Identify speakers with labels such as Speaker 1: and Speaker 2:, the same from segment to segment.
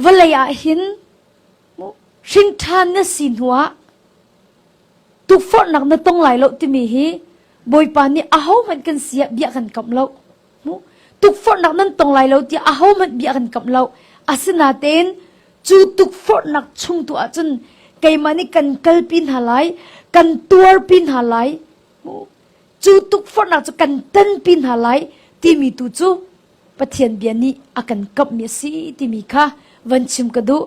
Speaker 1: Vawlei ah hin hrinṭhan na si hnuah tukforhnak na tong lai lo timi hi Bawipa nih ahohmanh kan si ah bia kan kamh lo. Tukforhnak nan tong lai lo tiah ahohmanh bia kan kamh lo. Asinain cu tukforhnak chung tu ahcun keimah nih kan kalpi hna lai, kan tuarpi hna lai. Cu tukforhnak cu kan tanpi hna lai timi tu cu Pathian bia nih a kan kamhmi a si timi kha van chim ka duh.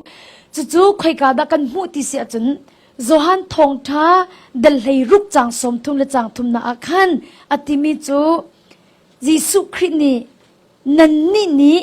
Speaker 1: Cucu khoika dah kan hmuh ti si ahcun Johan thawngṭha dal hlei ruk cang sawm thum le cang thumnak ah khan a timi cu Jesuh Khrih nih nannih nih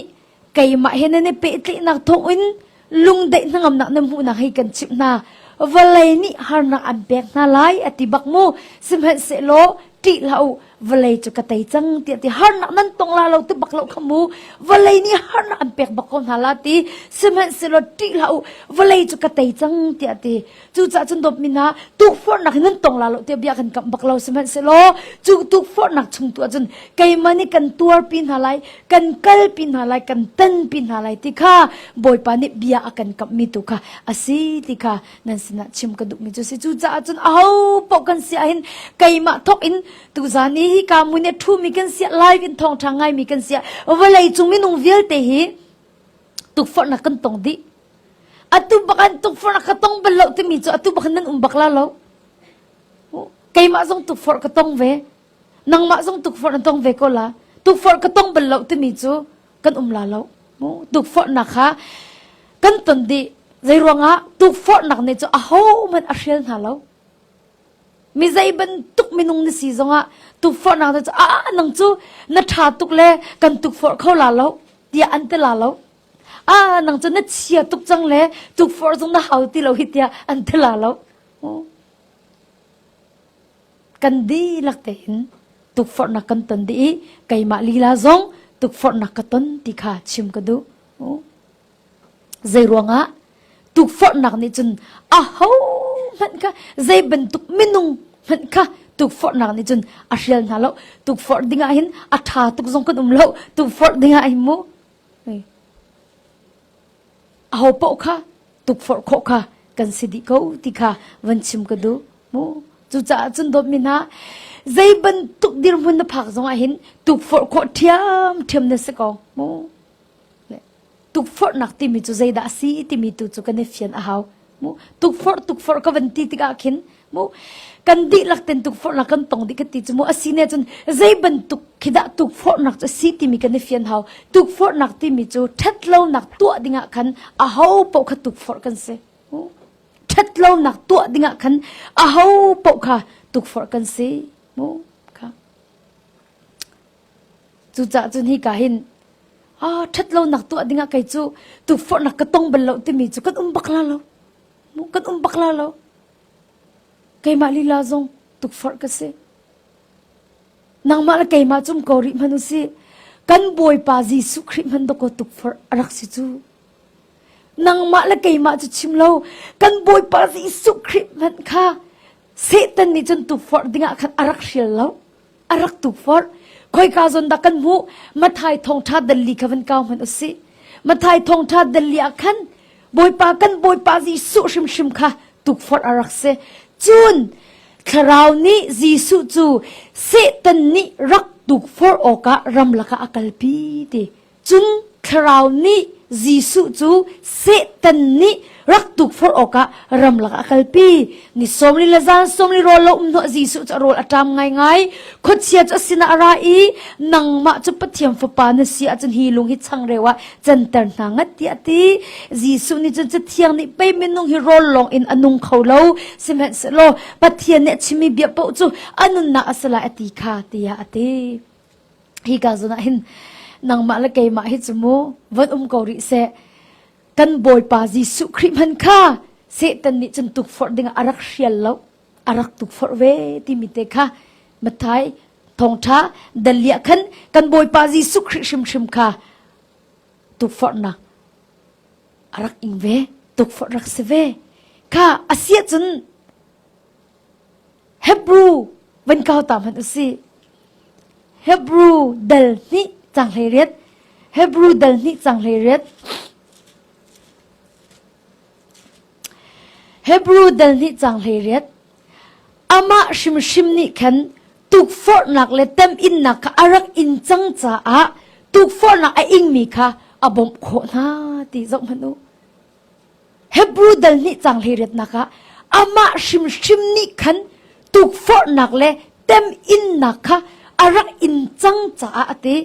Speaker 1: keimah he nan i pehtlaihnak thawngin lungdeih hnangamnak na hmuhnak hi kan chimh hna vawlei nih harnak an pek hna lai a ti bak mu sihmanhsehlaw ṭih hlah u vawlei cu ka tei cang tiah ti harnak nan tong la lo ti bak lo khamu vawlei nih harnak an pek bak ko hna la ti sihmanhsehlaw ṭih hlah u vawlei cu ka tei cang tiah ti Cucaah cun dawp min ah tukforhnak in nan tong la lo tiah bia kan kam bak lo sihmanhsehlaw cu tukforhnak chung tu ahcun keimah nih kan tuarpi hna lai kan kalpi hna lai kan tanpi hna lai ti kha Bawipa nih bia a kan kamhmi tu kha a si ti kha nan sinah chim ka duhmi cu si cucaah cun aho paoh kan si ahhin keimah thok in tuzan ni hi ka mu nih ṭhumi kan sia live in thawngṭha ngaimi kan sia vawlei cung minung vialte hi tukforhnak kan tong dih Atu bak an tukforh ka tong bal lo timi cu atu bak nan um bak la lo. Keimah zong tukforh ka tong ve. Nangmah zong tukforh na tong ve ko la. Tukforh ka tong bal lo timi cu kan um la lo. Tukforhnak ha kan ton di zei ruangah tukforhnak ne cu ahoman a hrial hna lo. Mi zei bantuk minung na si zongah tukforhnak ne cu a nang cu na tha tuk le kan tukforh kho la lo tiah an te la lo. ah nang cu na chia tuk cang le tukforh zung na hau ti lo hi tiah an ti la lo kan dihlak tein tukforhnak kan ton dih i keimah lila zong tukforhnak ka ton ti kha chim ka duh zei ruangah tukforhnak nih cun a ho hmanh kha zei bantuk minung hmanh kha tukforhnak nih cun a hrial hna lo tukforh dingah hin a ṭha tuk zong kan um lo tukforh dingah hin mu ahopaoh kha tukforh khawh kha kan si dih ko ti kha van chim ka duh mu cucaah cun dawtmi hna zei bantuk dirhmun na phak zongah hin tukforh khawh ṭhiam ṭhiam na si ko mu tukforhnak timi cu zeidah a si timi tu cu kan i fian a hau mu tukforh tukforh ka van ti tikah khin mu kan dihlak ten tukforh la kan tong dih ka ti cu mu asine cun zei bantuk khidah tukforh nak cu si timi kan i fian hau tukforh nak timi cu ṭhat lo nak tuah dingah khan a ho poh kha tukforh kan si ṭhat lo nak tuah dingah khan a ho poh kha tukforh kan si mu Cucaah cun hika hin aa ṭhat lonak tuah dingah kei cu tukforhnak ka tong bal lo timi cu kan um bak la lo. Kan um bak la lo. Keimah lila zong tukforh ka si. Nangmah le keimah cum ko rih hman u si. Kan Bawipa Jesuh Khrih hman dawkaw tukforh a rak si cu. Nangmah le keimah cu chim lo. Kan Bawipa Jesuh Khrih hmanh kha Satan nih cun tukforh dingah khan a rak hrial lo. a rak tu forh khoika zon dah kan hmuh mathai thongtha dalli kha van kau hman usi mathai thongtha dalli ah khan bawipa kan bawipa ji su hrim hrim kha tuk forh a rak se cun thlarau nih jesu cu satan nih rak tuk forh awkah ram laka a kalpi ti Cung thlarau nih Jesuh cu Satan nih rak tuk forh awkah ramlak ah a kalpi. Ni sawm li le zan sawm li rawl lo um hnawh Jesuh cu a rawl a ṭam ngaingai. Khuachia cu a sinah a ra i, Nangmah cu Pathian Fapa na si ahcun hi lung hi changreu ah canter hna ngat tiah a ti. Jesuh nih cun Cathiang nih pei minung hi rawl lawng in a nung kho lo, sihmanhsehlaw Pathian nih a chimmi bia paoh cu a nunnak a si lai a ti kha tiah a ti. Hika zon ah hin nangmah le keimah hi cu mu von um ko rih seh. Kan Bawipa Jesuh Khrih hman kha Satan nih cun tukforh dingah a rak hrial lo, a rak tukforh ve timi te kha Mathai thawngtha dalia khan kan Bawipa Jesuh Khrih hrimhrim kha tukforhnak a rak ing ve tukforh rak si ve kha asia cun Hebru van kau ta hmanh a si. Hebru dal hnih cang hlei riat. Hebru dal hnih cang hlei riat. Hebru dal hnih cang hlei riat. Amah hrimhrim nih khan tukforhnak le teminnak kha a rak in cang caah tukforhnak a ingmi kha a bawmh khawh hna ti zoh hmanh u. Hebru dal nih cang hleiriatnak ah amah hrimhrim nih khan tukforhnak le teminnak kha a rak in cang caah a ti.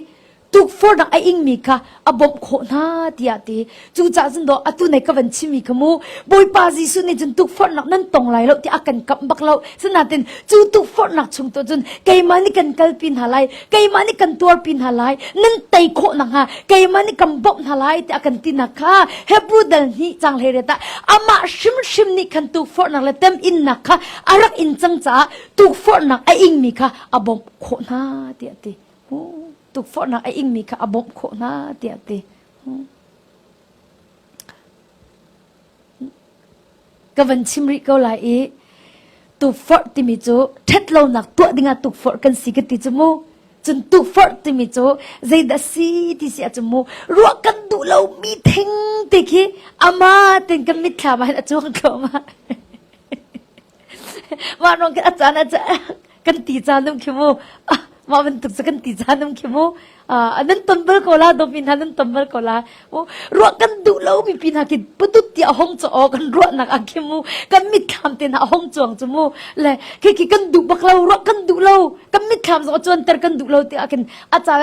Speaker 1: Tukforhnak a ingmi kha a bawmh khawh hna tiah a ti. Cucaah cun daw atu nei ka van chimmi kha mu. Bawipa Jesuh nih cun tukforhnak nan tong lai lo ti a kan kamh bak lo. Sinain cu tukforhnak chung tu cun keimah nih kan kalpi hna lai. keimah nih kan tuarpi hna lai nan tei khawh nakhnga keimah nih kan bawmh hna lai tiah kan tinak kha hebrew dal nih cang hlei retah amah hrimhrim nih khan tukforhnak le tem innak kha a rak in cang caah tukforhnak a ingmi kha a bawmh khawh hna tiah ti tukforhnak a ingmi kha a bawmh khawh hna tiah ti Ka van chim rih ko lai i tukforh timi cu ṭhet lonak tuah dingah tukforh kan si ka ti cu mu. Cun tukforh timi cu zeidah si ti si ahcun mu ruah kan duh lomi thing ti khi amah tein kan mitthlam ah hin a cuang thluahmah. mah rong ke a caan ah kan ti caan um khi mu mah bantuk sa kan ti caan um khi mu nan ton bal ko la domi hna nan ton bal ko la ruah kan duh lo mi pi hna kin putut ti a hong cho kan ruah nak a khi mu kan mit thlam te na a hong chuang chu mu le khi khi kan duh bak lo ruah kan duh lo kan mit thlam zo chuan ter kan duh lo ti a kin a ca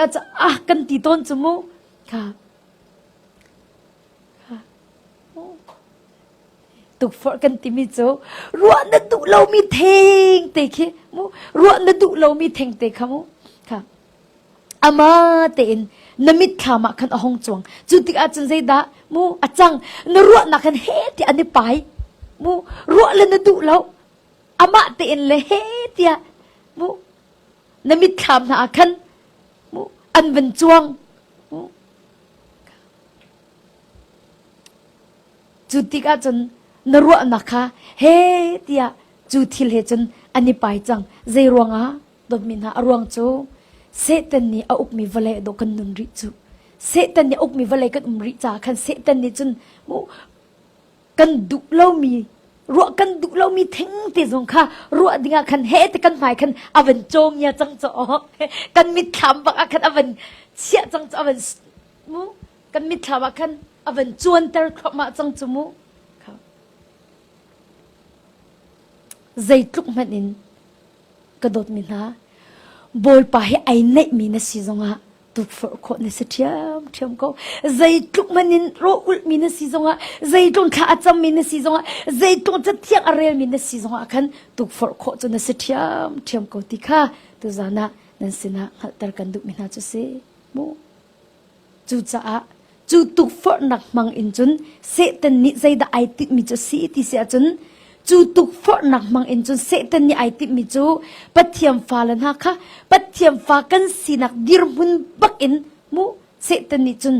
Speaker 1: ah kan ti ton chu mu ka tukforh kan timi cu ruah na duh lomi theng te khi mu ruah na duh lomi theng te kha mu kha ama tein na mitthlam ah khan a hong chuang cu tikah cun zeidah mu a cang na ruahnak khan he ti an i pai mu ruah le na duh lo amah tein le he tiah mu na mitthlam hna ah khan mu an van chuang Cu tikah cun na ruahnak kha he tiah cu thil he cun an i pai cang. Zei ruangah? Dawtmi hna, a ruang cu Satan nih a ukmi vale dawh kan nun rih cu. Satan nih a ukmi vale kan um rih caah khan Satan nih cun kan duh lomi ruah kan duh lomi thengte zong kha ruah dingah khan hete kan hmai khan a van cawngia cang cu awk kan mitthlam bak ah khan a van chiah cang cu a van kan mitthlam ah khan a van cuanter thluahmah cang cu mu zeitluk hmanh in ka dawtmi hna Bawipa hi ai neihmi na si zongah tukforh khawh na si ṭhiam ṭhiam ko zeitluk man in ro ulhmi na si zongah zeitlung thla a cammi na si zongah zeitlung cathiang a relmi na si zongah khan tukforh khawh cu na si ṭhiam ṭhiam ko ti kha tuzan ah nan sinah hngalhter kan duhmi hna cu si mu Cucaah cu tukforhnak hmang in cun Satan nih zeidah ai timhmi cu si ti si ahcun cu tukforhnak hmang in cun Satan nih ai timhmi cu Pathian fale hna kha Pathian fa kan sinak dirhmun bak in mu Satan nih cun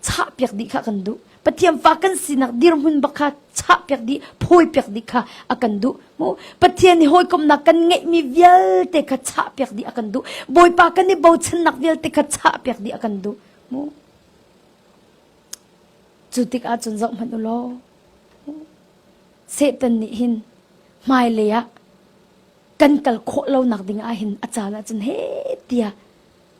Speaker 1: chahpiak dih kha kan duh. Pathian fa kan sinak dirhmun bak kha chahpiak dih, phawipiak dih kha a kan duh. Mu Pathian i hawikomnak kan ngeihmi vialte kha chahpiak dih a kan duh. Bawipa kan i bochannak vialte kha chahpiak dih a kan duh. Mu cu tikah cun zoh hmanh u law Satan nih hin hmailei ah kan kal khawh lonak ding ah hin a caan ah cun he tiah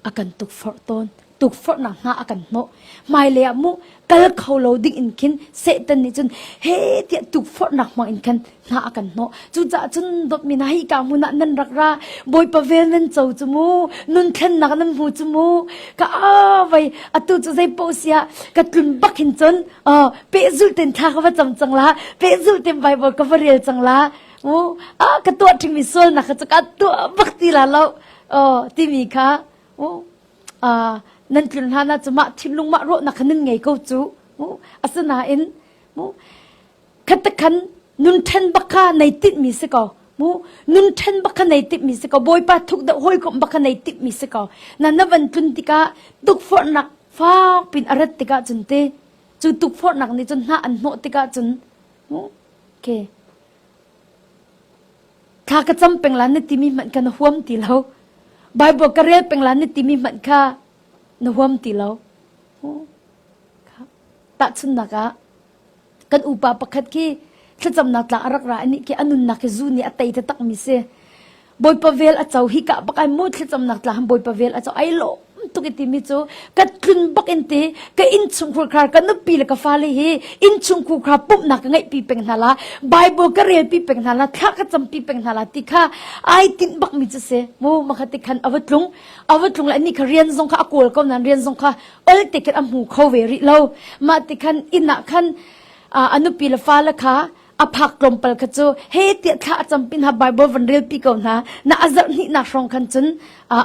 Speaker 1: a kan tukforh tawn. Tukforhnak hna a kan hnawh. Hmailei ah mu kal kho lo ding in khin Satan nih cun he tiah tukforhnak hmang in khan hna a kan hnawh. Cucaah cun dawtmi hna hi ka hmun ah nan rak ra. Bawipa vel nan co cu mu. Nun thlennak nan hmu cu mu. Ka a vai atu cu zei paoh sia ka tlun bak hin cun uh, pehzul ten tha ka va cang cang la. Pehzul ten Bible ka va rel cang la. U a ka tuah ṭhingmi sualnak kha cu ka tuah bak ti la lo. aw timi kha nan tlun hlan ah cumah thinlung mah rawhnak kha nan ngei ko cu asinain khatak khan nun ṭhen bak kha nei tinhmi si ko mu nun ṭhen bak kha nei timmi si ko bawipa thuk da hawikom bak kha nei timmi si ko na na van tlun tikah tukforhnak fak pin a rat tikah cun te cu tukforhnak nih cun hna an hnawh tikah cun okay Thla ka cam peng la na timi hmanh kha na huam ti lo. Bible ka rel peng la na timi hmanh kha na huam ti lo. Tahchunnak ah, kan upa pakhat khi thlacamnak tla a rak ra i nih ke a nunnak hi zu nih a tei takmi si. Bawipa vel a co hi ka bak ai mu thlacam nak tla ham Bawipa vel a co ai lawm tuk i timi cu ka tlun bak in ti ka innchung khur khar ka nupi le ka fale hi innchung khur khar pumhnak ka ngeih pi peng hna la Bible ka rel pi peng hna la thla ka cam pi peng hna la ti kha ai tin bak mi chu se mu makhat ti khan avatlung avatlung la ni kha rian zong kha a kol ko nan rian zong kha ol te khat a mu kho ve ri lo ma ti khan ina khan anupi le fale kha a phak tlawmpal kha cu he tiah thla a cam pin ha Bible van relpi ko hna na azarh hnihnak hrawng khan cun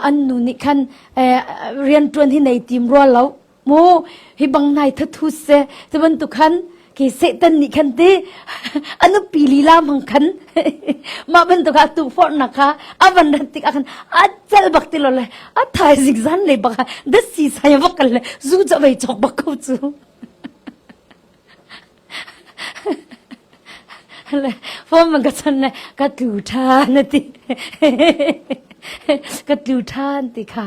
Speaker 1: an nu nih khan rian ṭuan hi nei tim rua lo mu hi bang nai thathu se te bantuk khan ke satan nih khan te anupi lila mang khan ma bantuk a tu forna kha avan rat tik akhan achal bak ti lo le athai zig zan nei baka da si sai vak le zu cha vei chok bak ko chu phone man ka chon le ka tu than na ti ka tu than ti kha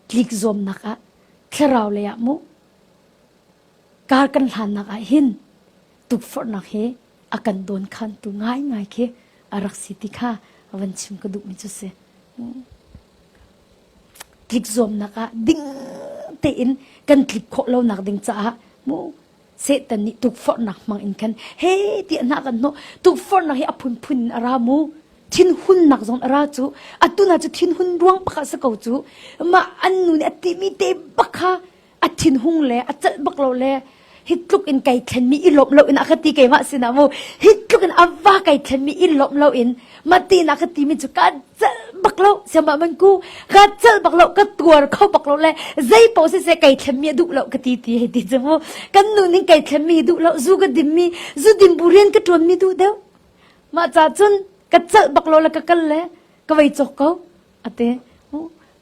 Speaker 1: tlik zom nak ah thlarau le ah mu kar kan hlan nak ah hin tuk far nak he akan don khan tu ngai ngai khi arak si ti kha avan chim ka duh mi chu se tlik zuamnak ah ding tein kan tlik khawh lonak ding caah mu Satan nih tukforhnak hmang in khan he ti na kan no tukforhnak hi a phunphun in a ra mu thinhunnak zong a ra cu atuna cu thinhun ruang pakhat sa ko cu mah an nu nih a timi te bak kha a thinhung le a celh bak lo le hi tluk in kai thlenmi i lawmh lo in a ka ti keimah sinah mu hi tluk in ava kai thlenmi i lawmh lo in mati na ka timi cu ka celh bak lo siamah man ku ka celh bak lo ka tuar kho bak lo le zei po se se kai thlenmi a duh lo ka ti ti ti chu mu kan nu ning kai thlenmi duh lo zu ka dimmi zu dim bu rian ka tuanmi duh deuh mah ca cun ka celh bak lo le ka kal le ka vei cok ko ate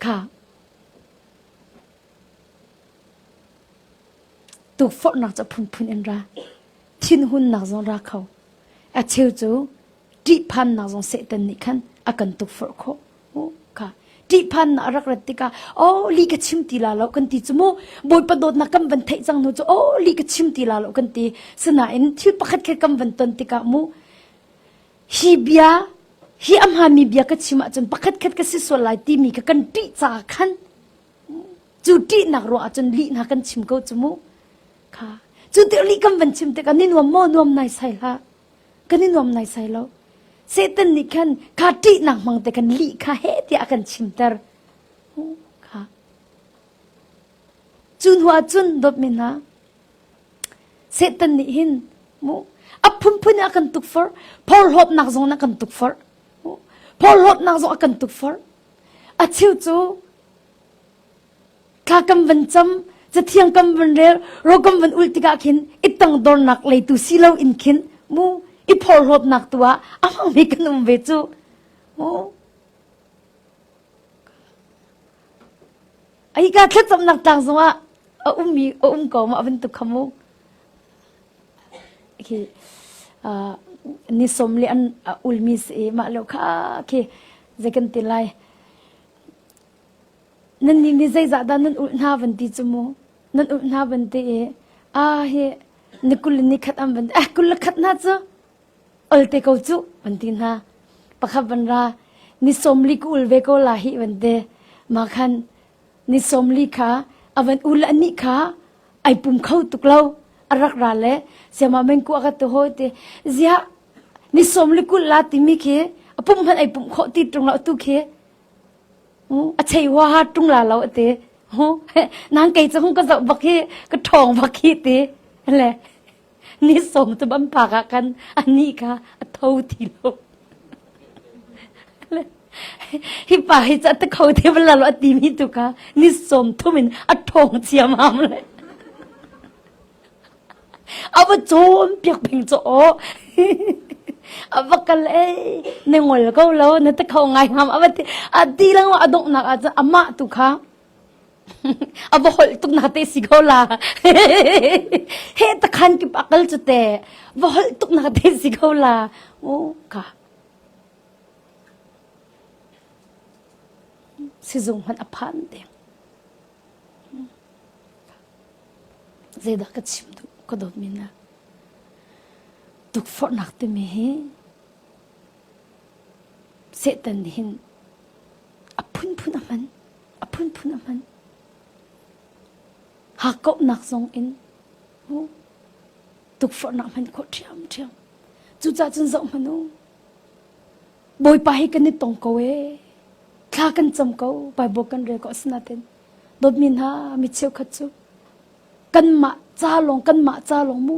Speaker 1: kha Tukforhnak cu a phunphun in ra. Thinhunnak zong ra kho. A cheu cu ṭihphannak zong Satan nih khan a kan tukforh khawh. Uh, kha. Ṭihphannak a rak rat tikah, aw li ka chim ti la lo kan ti cu mu. Bawipa dawtnak kan van theih cang hnu cu, aw li ka chim ti la lo kan ti. Sinain thil pakhat khe kan van ton tikah mu. Hi bia, hi a hmami bia ka chim ahcun pakhat khat ka si sual lai timi kha kan ṭih caah khan Cu ṭihnak ruang ahcun lihna kan chim ko cu mu. Kha. Cu tir lih kan van chim tikah ni nuam maw nuam naisai hlah. Kan i nuam naisai lo. Satan nih khan kha ṭihnak hmang te kan lih kha he tiah a kan chimter. Kha. Cu hnu ahcun dawtmi hna, Satan nih hin mu a phunphun in a kan tukforh. Phorhlawpnak zong in a kan tukforh. Phorhlawpnak zong a kan tukforh. A cheu cu thla kan van cam, cathiang kan van rel, ro kan van ulh tikah khin i tangdornak lei tu si lo in khin mu i phorhlawpnak tu ah a hmang mi kan um ve cu mu ai ka thlacamnak tlang zong ah a um mi a um ko ma van tu kha mu khi uh, ni som le an ulmi si ma lo kha khi ze kan ti lai nan ni ni zai za da nan ul hna van ti chu mu nan ul hna van ti e a he ni kul ni khat am van ah kul khat na chu olte ko chu van ti na pakhat van ra ni somli kul ve ko la hi van te ma khan Ni sawmli kha a van ul anih kha ai pum kho tuk lo. A rak ra le siamah mengku a ka tu hawi ti ziah ni sawmli kul la timi khi a pum hmanh ai pum khawh ti tung lo tu khi a chei hua ha tung la lo ti nang kei cu hung ka zoh bak hi ka ṭhawng bak hi ti le ni sawm tu bam pak ah kan ani ka a tho ti lo hi pa hi cha ta kho te bla lo ati mi tu ka ni sawm thum in a thong chiam ham le ava chom piak ping cho o ava kal e ne ngol ko lo ne ta kho ngai ham ava ti ati lang wa adok nak a cha ama tu kha a va holh tuk na te si ko la he ta khan kip akal chu te va holh tuk na te si ko la o ka sizung man aphan de zedah ka chim tu ka dot mina tuk for nak te me hi Satan hin a phunphun a hman. A phunphun a hman. Hakkauhnak zong in tukforhnak hman khawh ṭhiamṭhiam. Cucaah cun zoh hmanh u. Bawipa hi kan i tong ko ee. Thla kan cam ko. Baibal kan rel ko asinain dawtmi hna mi cheukhat cu kanmah ca lawng kanmah ca lawng mu.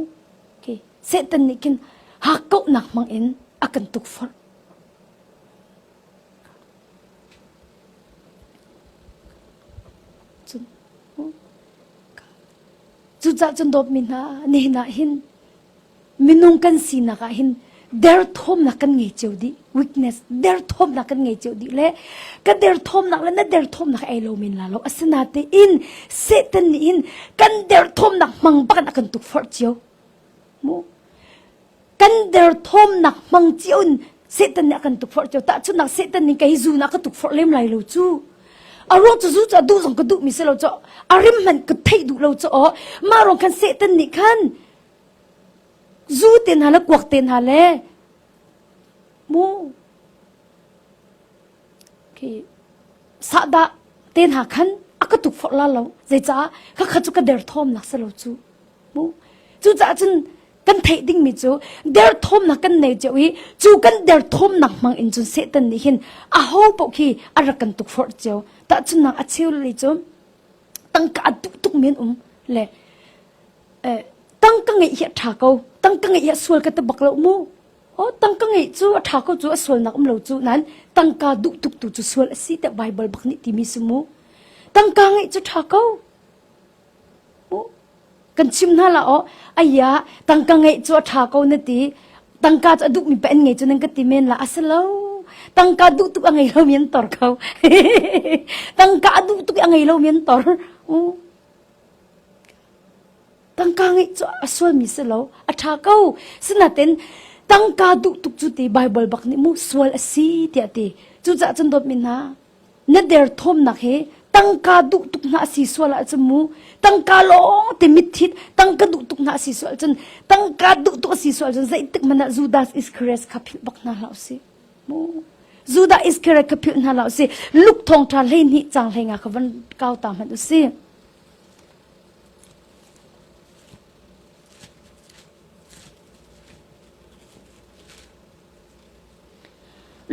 Speaker 1: Okay. Satan nih khin hakkauhnak hmangin a kan tukforh. Cucaah cun dawtmi hna, nihin ah hin minung kan sinak ah hin derthawmnak kan ngei cio dih weakness derthawmnak kan ngei cio dih le ka derthawmnak le na derthawmnak ei lo men la lo asinatein satan nih hin kan derthawmnak hmang bakin a kan tukforh cio Kan derthawmnak hmang cio in Satan nih a kan tukforh cio. Tahchunnak Satan nih ka hi zun ah ka tukforh lem lai lo cu. A ruang cu zu cu a duh zong ka duh mi si lo cu. A rim hmanh ka theih duh lo cu. Mah ruang khan Satan nih khan zu te hna le kuak te hna le mu khi sahdah te hna khan a ka tukforh la lo. Zeicaah khakha cu ka derthawm nak si lo cu. Cucaah cun kan theih dingmi cu derthawmnak kan nei cio i cu kan derthawmnak hmang in cun Satan nih hin aho paoh khi a rak kan tukforh cio. Tahchunnak a cheu lei cu tangka a tuk tuk men um le tangka ngeih hi a ṭha ko. Tangka ngeih hi a sual ka ti bak lo mu. Oh, tangka ngeih cu a ṭha ko cu a sualnak um lo cu nain tangka duh tuk tu cu sual a si tiah Baibal bak nih timi si mu. Tangka ngeih cu ṭha ko. Kan chim hna la aw, aya tangka ngeih cu a ṭha ko na ti. Tangka cu a duhmi pa an ngei cu nan ka ti men la. A si lo, tangka duh tuk a ngei lomi an tor ko. tangka a duh tuk i a ngei lomi an tor. Uh. Tangka ngeih cu a sualmi si lo, a ṭha ko. Sinain tangka duh tuk cu ti Baibal bak nih mu sual a si tiah ti. Cucaah cun dawtmi hna, Na derthawmnak hi tangka duh tuk hna a si sual ahcun mu tangka lawng te mitthit tangka duh tuk hna a si sual ahcun tangka duh tuk a si sual ahcun zeitik hmanh ah Judas Iscariot kha philh bak hna hlah usih mu Judah Iscariot kha philh hna hlah usih Luk thong ṭha hleihnih cang hlenga kha van kau ta hmanh usih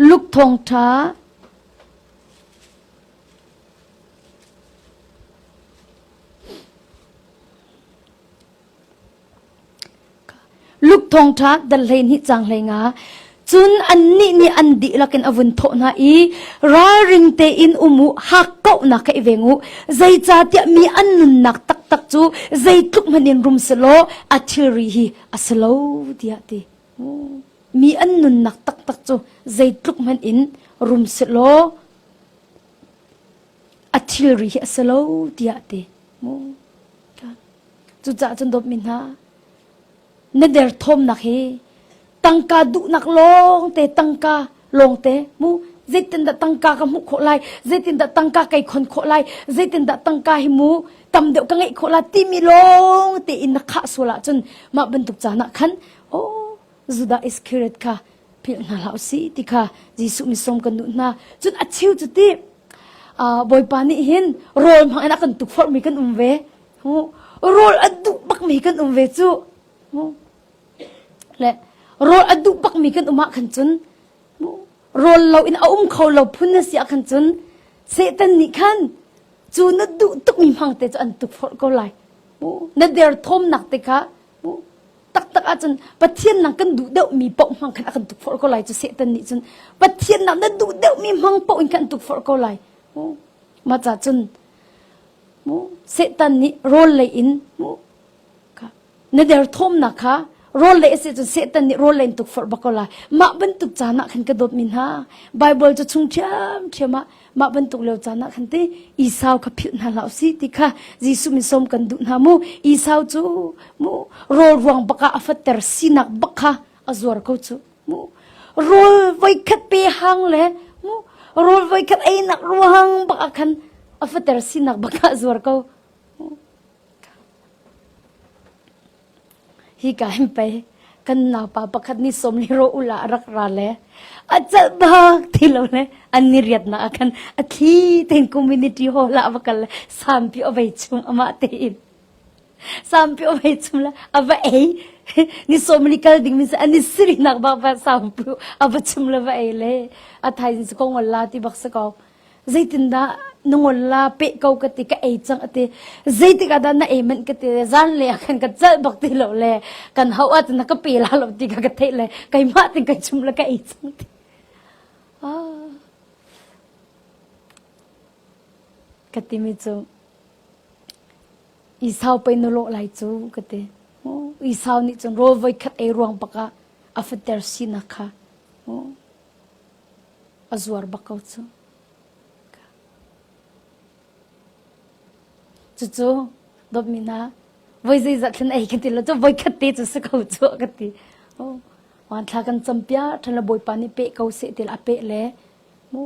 Speaker 1: Luk thawngṭha Luk thawngṭha dal hleihnih cang hlei nga cun annih nih an dihlak in a vun thawh hna i ralring tein um u hak kauhnak ka i veng u zeicahtiah mi an nunnak taktak cu zeitluk hmanh in rum selaw a thilri hi a si lo tiah ti Mi an nunnak taktak cu zeitluk hmanh in rum selaw a thilri hi a si lo tiah ti. Cucaah cun dawpmi hna, na derthawmnak hi tangka duhnak lawngte tangka lawngte mu zeitindah tangka ka hmuh khawh lai zeitindah tangka kai khon khawh lai zeitindah tangka hi mu tam deuh ka ngeih khawh lai timi lawng tein na khah sual ahcun mah bantuk caan ah khan oh Judah Iscariot kha philh hna hlah si ti kha Jesuh misom kan duh hna cun a chiu cu ti bawipa nih hin rawl hmang in a kan tuk forhmi kan um ve rawl a duh bakmi kan um ve cu le rawl a duh bakmi kan um ah khan cun rawl lo in a um kho lo phun na si ah khan cun Satan nih khan cu na duh tukmi hmangte cu an tuk forh ko lai na derthawmnak te kha taktak ahcun Pathian nang kan duh deuhmi paoh hmang khan a kan tuk forh ko lai cu Satan nih cun Pathian nang na duh deuhmi hmang paoh in kan tuk forh ko lai maca cun Satan nih rawl lei in Na derthawmnak kha rawl lei a si cun Satan nih rawl len tuk forh bak ko lai. Mah bantuk caan ah khan ka dawtmi hna, Baibal cu chung ṭhiamṭhiam ah mah bantuk lio caan ah khan ti Esau kha philh hna hlah u si ti kha Jesuh min sawm kan duh hna mu. Esau cu mu rawl ruang bak ah a fatter sinak bak kha a zuar ko cu mu. Rawl voikhat pe hang le mu rawl voikhat einak ruang bak ah khan a fatter sinak bak ah a zuar ko. Hika hin pei kan naupa pakhat nih sawmli rawh u la a rak ra le a calh bak ti lo le an ni riatnak ah khan a thli tein community hall ah va kal le sampi ovei chung amah tein sampi ovei chung le a va ei ni sawmli kal ding min an ni sirinak bak va sampi a va chung le va ei le a thaizing su ko ngol la ti bak si ko zeitindah na ngol la peh ko ka ti ka ei cang ati zeitik ah dah na ei manh ka ti zan le ah khan ka cal bak ti lo le kan hau at na ka pe la lo ti ka ka thei le keimah tin kai chum la ka ei cang ti ah ka ti mi cu i sau pe no lo lai cu ka ti i sau nih cun ro voi khat ei ruang baka a fater sinak kha A zuar bak ko cu. Cucu dawtmi hna, voi zeizat thlen ei kan ti lo cu voikhat te cu si ko cu ka ti. Oh, Vanthla kan cam piak ṭhan le Bawipa nih peh ko seh ti a peh le mu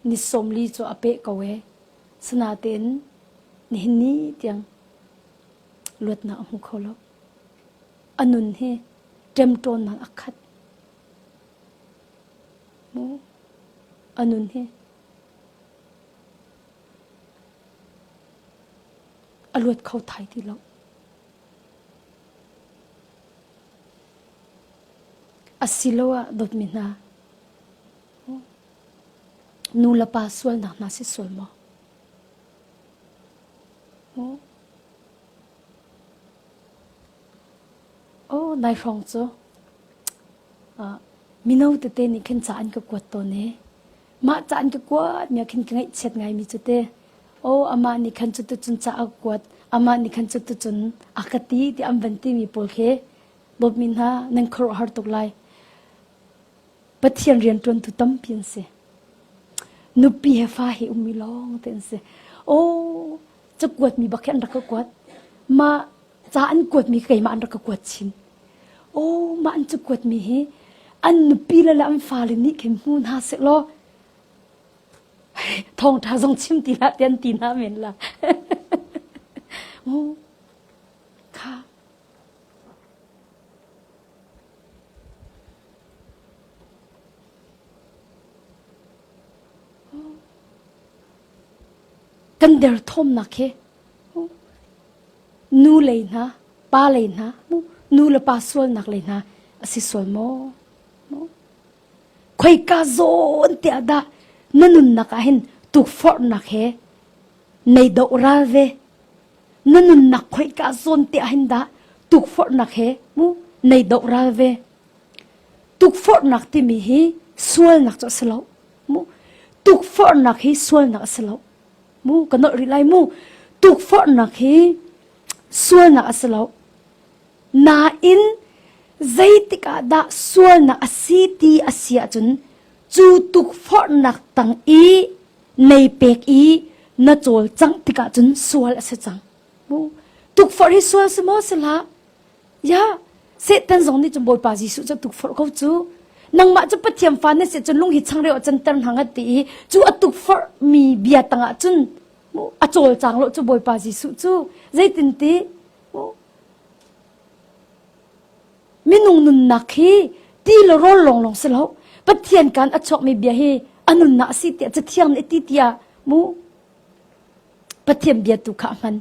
Speaker 1: ni sawmli cu a peh ko ee. Sinatein nihin ni tiang luatnak a hmu kho lo. A nun hi ṭemṭawnnak a khat. A nun hi a luat kho thai ti lo. Asiloah dawtmi hna, nu le pa sualnak hna si sual maw? Aw nai hrawng cu mino tete nih khin ca an ka kuat tawn i mah ca an ka kuat mi ah khin ka ngaihchiat ngaimi cu teh aw amah nih khan cuticun ca a ka kuat amah nih khan cuticun a ka ti tiah an van timi pawl khi dawtmi hna nan khuaruah har tuk lai. Pathian rianṭuantu tampi an si. Nupi he fa he ummi lawngte an si. Aw cakuat mi bak hi an rak ka kuat. Mah ca an kuatmi keimah an rak ka kuat chin. Aw, mah an cu kuatmi hi an nupi le an fale nih khin hmu hna seh law thawngtha zong chim ti hlah ti an ti hna men la. Oh, kha kan der thawmnak hi Nu lei hna, pa lei hna, nu le pa sualnak lei hna a si sual maw? Khoika zawn tiah dah na nunnak ah hin tukforhnak he nei doh ral ve? Na nunnak khoika zawn tiah hin dah tukforhnak he nei doh ral ve? Tukforhnak timi hi sualnak cu a si lo. Tukforhnak hi sualnak a si lo. mu ka nolh rih lai mu tukforhnak hi sualnak a si lo nain zeitik ah dah sualnak a si ti a si ahcun cu tukforhnak tang i nei pek i na cawlcangh tikah cun sual a si cang mu tukforh hi sual si maw si la Ya, Satan zong nih cun Bawipa Jesuh cu tukforh ko cu. Nangmah cu Pathian fa na si cun lung hi changreu a canter hna ngat ti i cu a tukforh mi bia tangah cun a cawlcang lo cu Bawipa Jesuh cu. Zeitinti? Minung nunnak hi ti le rawl lawnglawng si lo, Pathian kan a chuakmi bia hi a nunnak a si tiah Cathiang nih a ti tiah mu. Pathian bia tu kha a hman.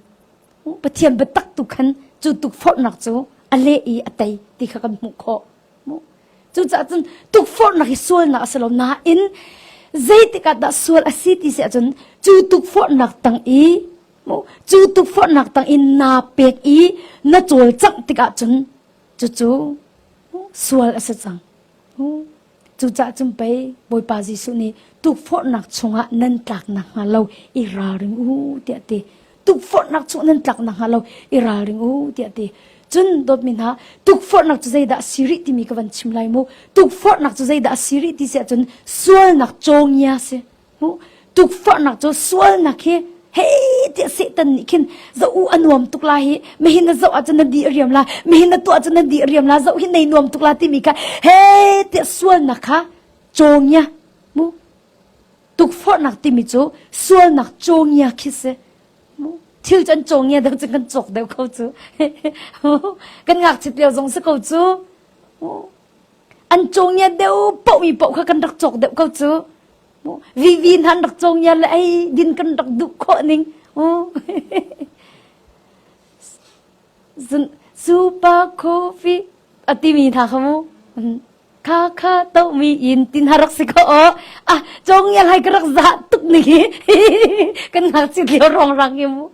Speaker 1: Pathian biatak tu khan cu tukforhnak cu a leh i a tei ti kha kan hmuh khawh. Cucaah cun tukforhnak hi sualnak a si lo nain zeitik ah dah sual a si ti si ahcun cu tukforhnak tang i cu tukforhnak tang i naa pek i na cawlcangh tikah cun cucu sual a si cang. Cucah cun pei Bawipa Jesuh nih tukforhnak chungah nan tlak nakhnga lo i ralring u tiah a ti. Tukforhnak chungah nan tlak nakhnga lo i ralring u tiah a ti. Cun dawtmi hna, tukforhnak cu zeidah a si rih timi ka van chim lai mu. Tukforhnak cu zeidah a si rih ti si ahcun sualnak cawngia a si. hmuh tukforhnak cu sualnak hi hei tiah Satan nih khin za u a nuam tuk la hi mehin na zoh ahcun na di a riam la mehin na tuah ahcun na di a riam la zoh hi nei nuam tuk la timi kha hei tiah sualnak kha cawngia mu tukforhnak timi cu sualnak cawngia khi si mu thil cu an cawngia dang cun kan cawk deuh ko cu kan ngakchit lio zong si ko cu an cawngia deuh pohmi poh kha kan rak cawk deuh ko cu. Vivi hna an rak cawngia le ei din kan rak duh khawh ning. Super coffee a timi hna kha mu. Kha kha tomi in tin ha rak si kho o. Ah, cawngia lai ka rak za tuk ning hi. Kan ngakchit lio rong rang hi mu.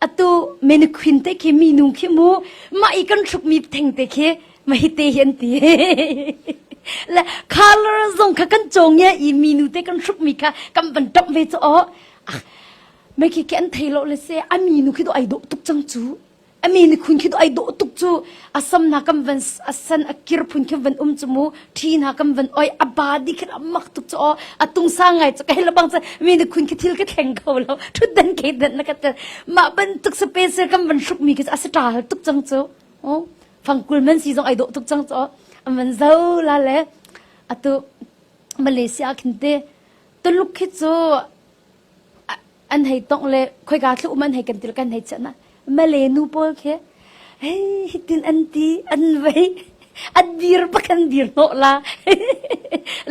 Speaker 1: atu menequin te khi minu khi mu ma i kan thruk mi theng te khi ma hi te hi an ti le color zong kha kan chong ye i minu te kan thruk mi kha kan ban top ve cho me khi ke an thei lo le se a minu khi do ai do tuk chang chu a mi ni khun khi do ai do tuk chu asam na kam van asan akir phun khi van um chumu thi na kam van oi aba di khin amak tuk cho atung sa ngai cho kai labang cha mi ni khun khi thil ka thleng kho lo thut dan ke dan na ka ma ban tuk space kam van shup mi ki asata hal tuk chang cho o fangkul man si zong ai do tuk chang cho aman zo la le atu malaysia khinte tuluk khi chu an hei tongh le khoika thlu um an hei kan til kan hei chana male nu pawl khi hei hitin an ti an vei an dir pakan dir no la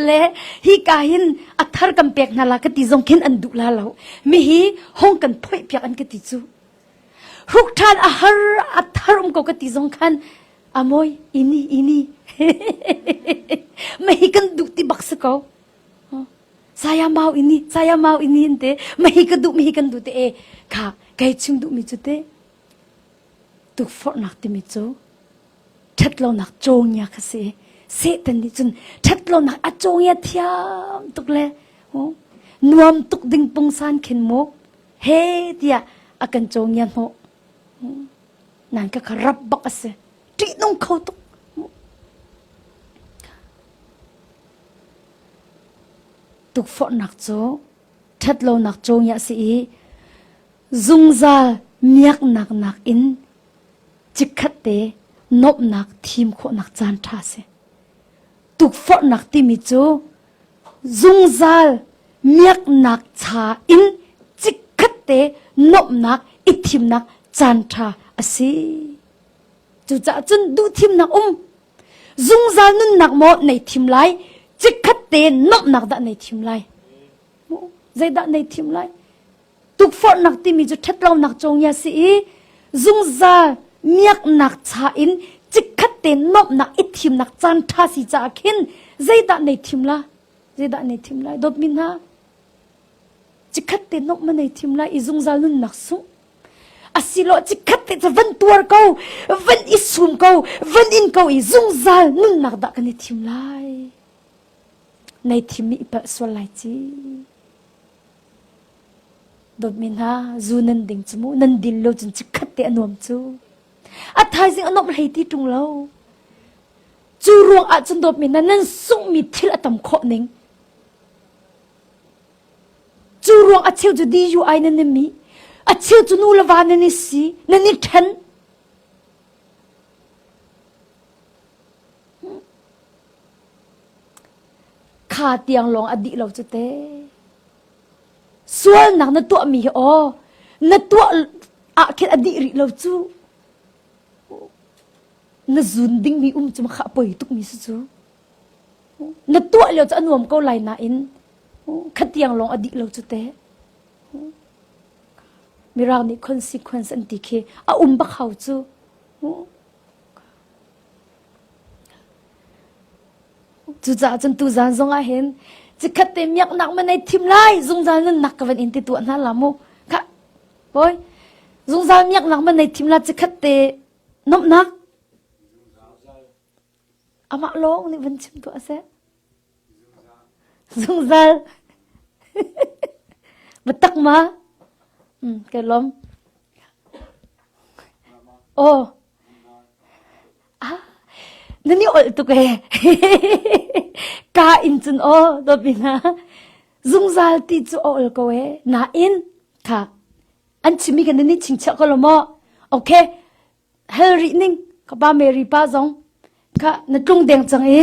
Speaker 1: le hi ka hin athar kan pek na la ka ti zong khin an du la lo mi hi hong kan phoi piak an ka ti chu ruk than a har athar um ko ka ti zong khan amoy ini ini mai kan du ti bak se ko saya mau ini saya mau ini an te mahi ka duh mahi kan du te e kha kai chung duh mi chu te tuk for nak ti mi chu ṭhat lo nak chongia kha si Satan nih cun ṭhat lo nak a chongia thiam tuk le ho nuam tuk ding pungsan khin mu he tia a kan chongia no nan ka kharap bak ase ṭi nung kho tuk Tukforhnak cu ṭhatlonak cungiah si i zungzal miaknak nakin chikkhatte nuamhnak thim khawhnak caan ṭha a si. Tukforhnak timi cu zungzal miaknak cha in chikkhatte nuamhnak i thimnak caan ṭha a si. Cucaah cun duhthimnak um Zungzal nunnak maw nei thim lai, cikhat te nuamhnak dah nei thim lai. Zeidah nei thim lai? Tukforhnak timi cu ṭhatlonak congia si i zungzal miaknak cha in cikhat te nuamhnak i thimnak caan ṭha si caah khin zeidah nei thim la? Zeidah nei thim lai? Dawtmi hna, cikhat te nuamh ma nei thim lai i zungzal nunnak sungh. Asilo cikhat te cu van tuar ko, van i sum ko, van in ko i zungzal nunnak dah kan i thim lai. Nei thimmi i palh sual lai ci. Dawtmi hna, zu nan ding cu mu, nan dil lo cun cikhat te a nuam cu. A thaizing a nuam hlei ti tung lo. Cu ruang ah cun dawtmi hna nan sunghmi thil a tam khawh ning. Cu ruang a cheu cu diyu ai nan nem i a cheu cu nu le va nan i si nan i ṭhen. Kha tiang lawng a dih lo cu te. Sualnak na tuahmi hi aw na tuah ah khin a dih rih lo cu. Na zun dingmi um cu kha a poi tukmi si cu. Na tuah lio cu a nuam ko lai nain khatiang lawng a dih lo cu te mirang nih consequence an ti khi a um bak hau cu cucaah cun tu zan zong ah hin cikhat te miak nak ma nei thim lai zungzal nun nak ka van in ti tu hna la mu kha poi zungzal miak nak ma nei thim la cikhat te nom nak Amah lawng nih vun chim tuah seh. Zungzal. Biatak ma? Hmm, kai lawm. Aw. Ah, nan i olh tuk ee. Ka in cun aw, dopi na. Zungzal ti cu a ol ko ee. Nain, kha, an chimi kan ni chingchia ko lo mo. Okay, hel rih ning ka pa Mary pa zong kha na tlung deng cang i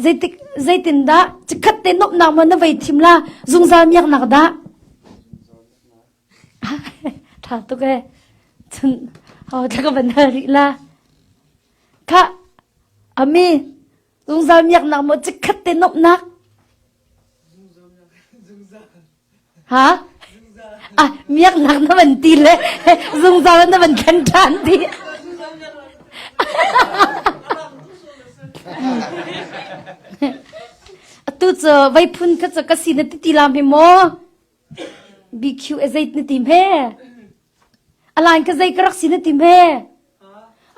Speaker 1: zeitik zeitindah cikhat te nuamhnak ma na vei thim la zungzal miaknak dah ṭha tuk e cun ho thla ka van hal rih la kha ami Zungzal miaknak maw cikhat te nuamhnak? Ha? Ah, miaknak na van ti le zungzal na van khan ṭhan ti. Atu cu vai phun kha cu ka si na ti ti la me maw? BQ e zait na ti me? A laan kha zei ka rak si na ti hme?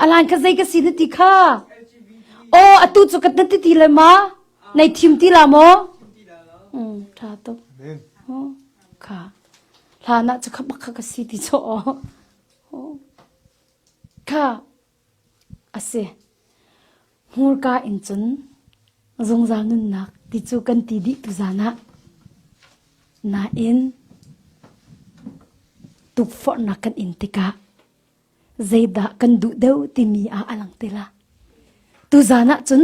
Speaker 1: A laan kha zei ka si na ti kha? Aw, atu cu ka na ti ti le ma? Nei thim ti la maw? Mm, ṭha tuk. Oh, kha. Hlan ah cu kha bak kha ka si ti chaw aw. Oh. Kha, A si. Hmurka in cun zungzal nunnak ti cu kan ti dih tu zan ah. Nain tukforhnak kan in tikah zeidah kan duh deuh timi ah a lang tila. Tuzan ah cun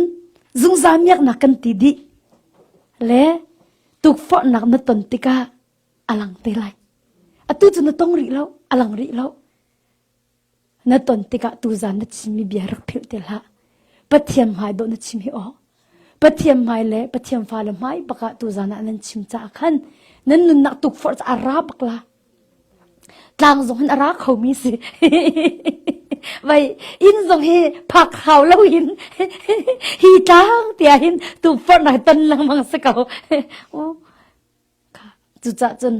Speaker 1: zungzal miaknak kan ti dih. Le tukforhnak na ton tikah a lang te lai. Atu cu na tong rih lo, a lang rih lo. Na ton tikah tuzaan na chimmi bia rak philh te hlah. Pathian hmai dawh na chim hi aw. Pathian hmai le Pathian fale hmai bakah tuzaan ah nan chim caah khan nan nunnak tukforh cu a ra bak la. Tlang zong hin a ra kho mi si. Vai inn zong hi phak hau lo in hi tlang tia hin tukforh nai ton lengmang si ko. Cucah cun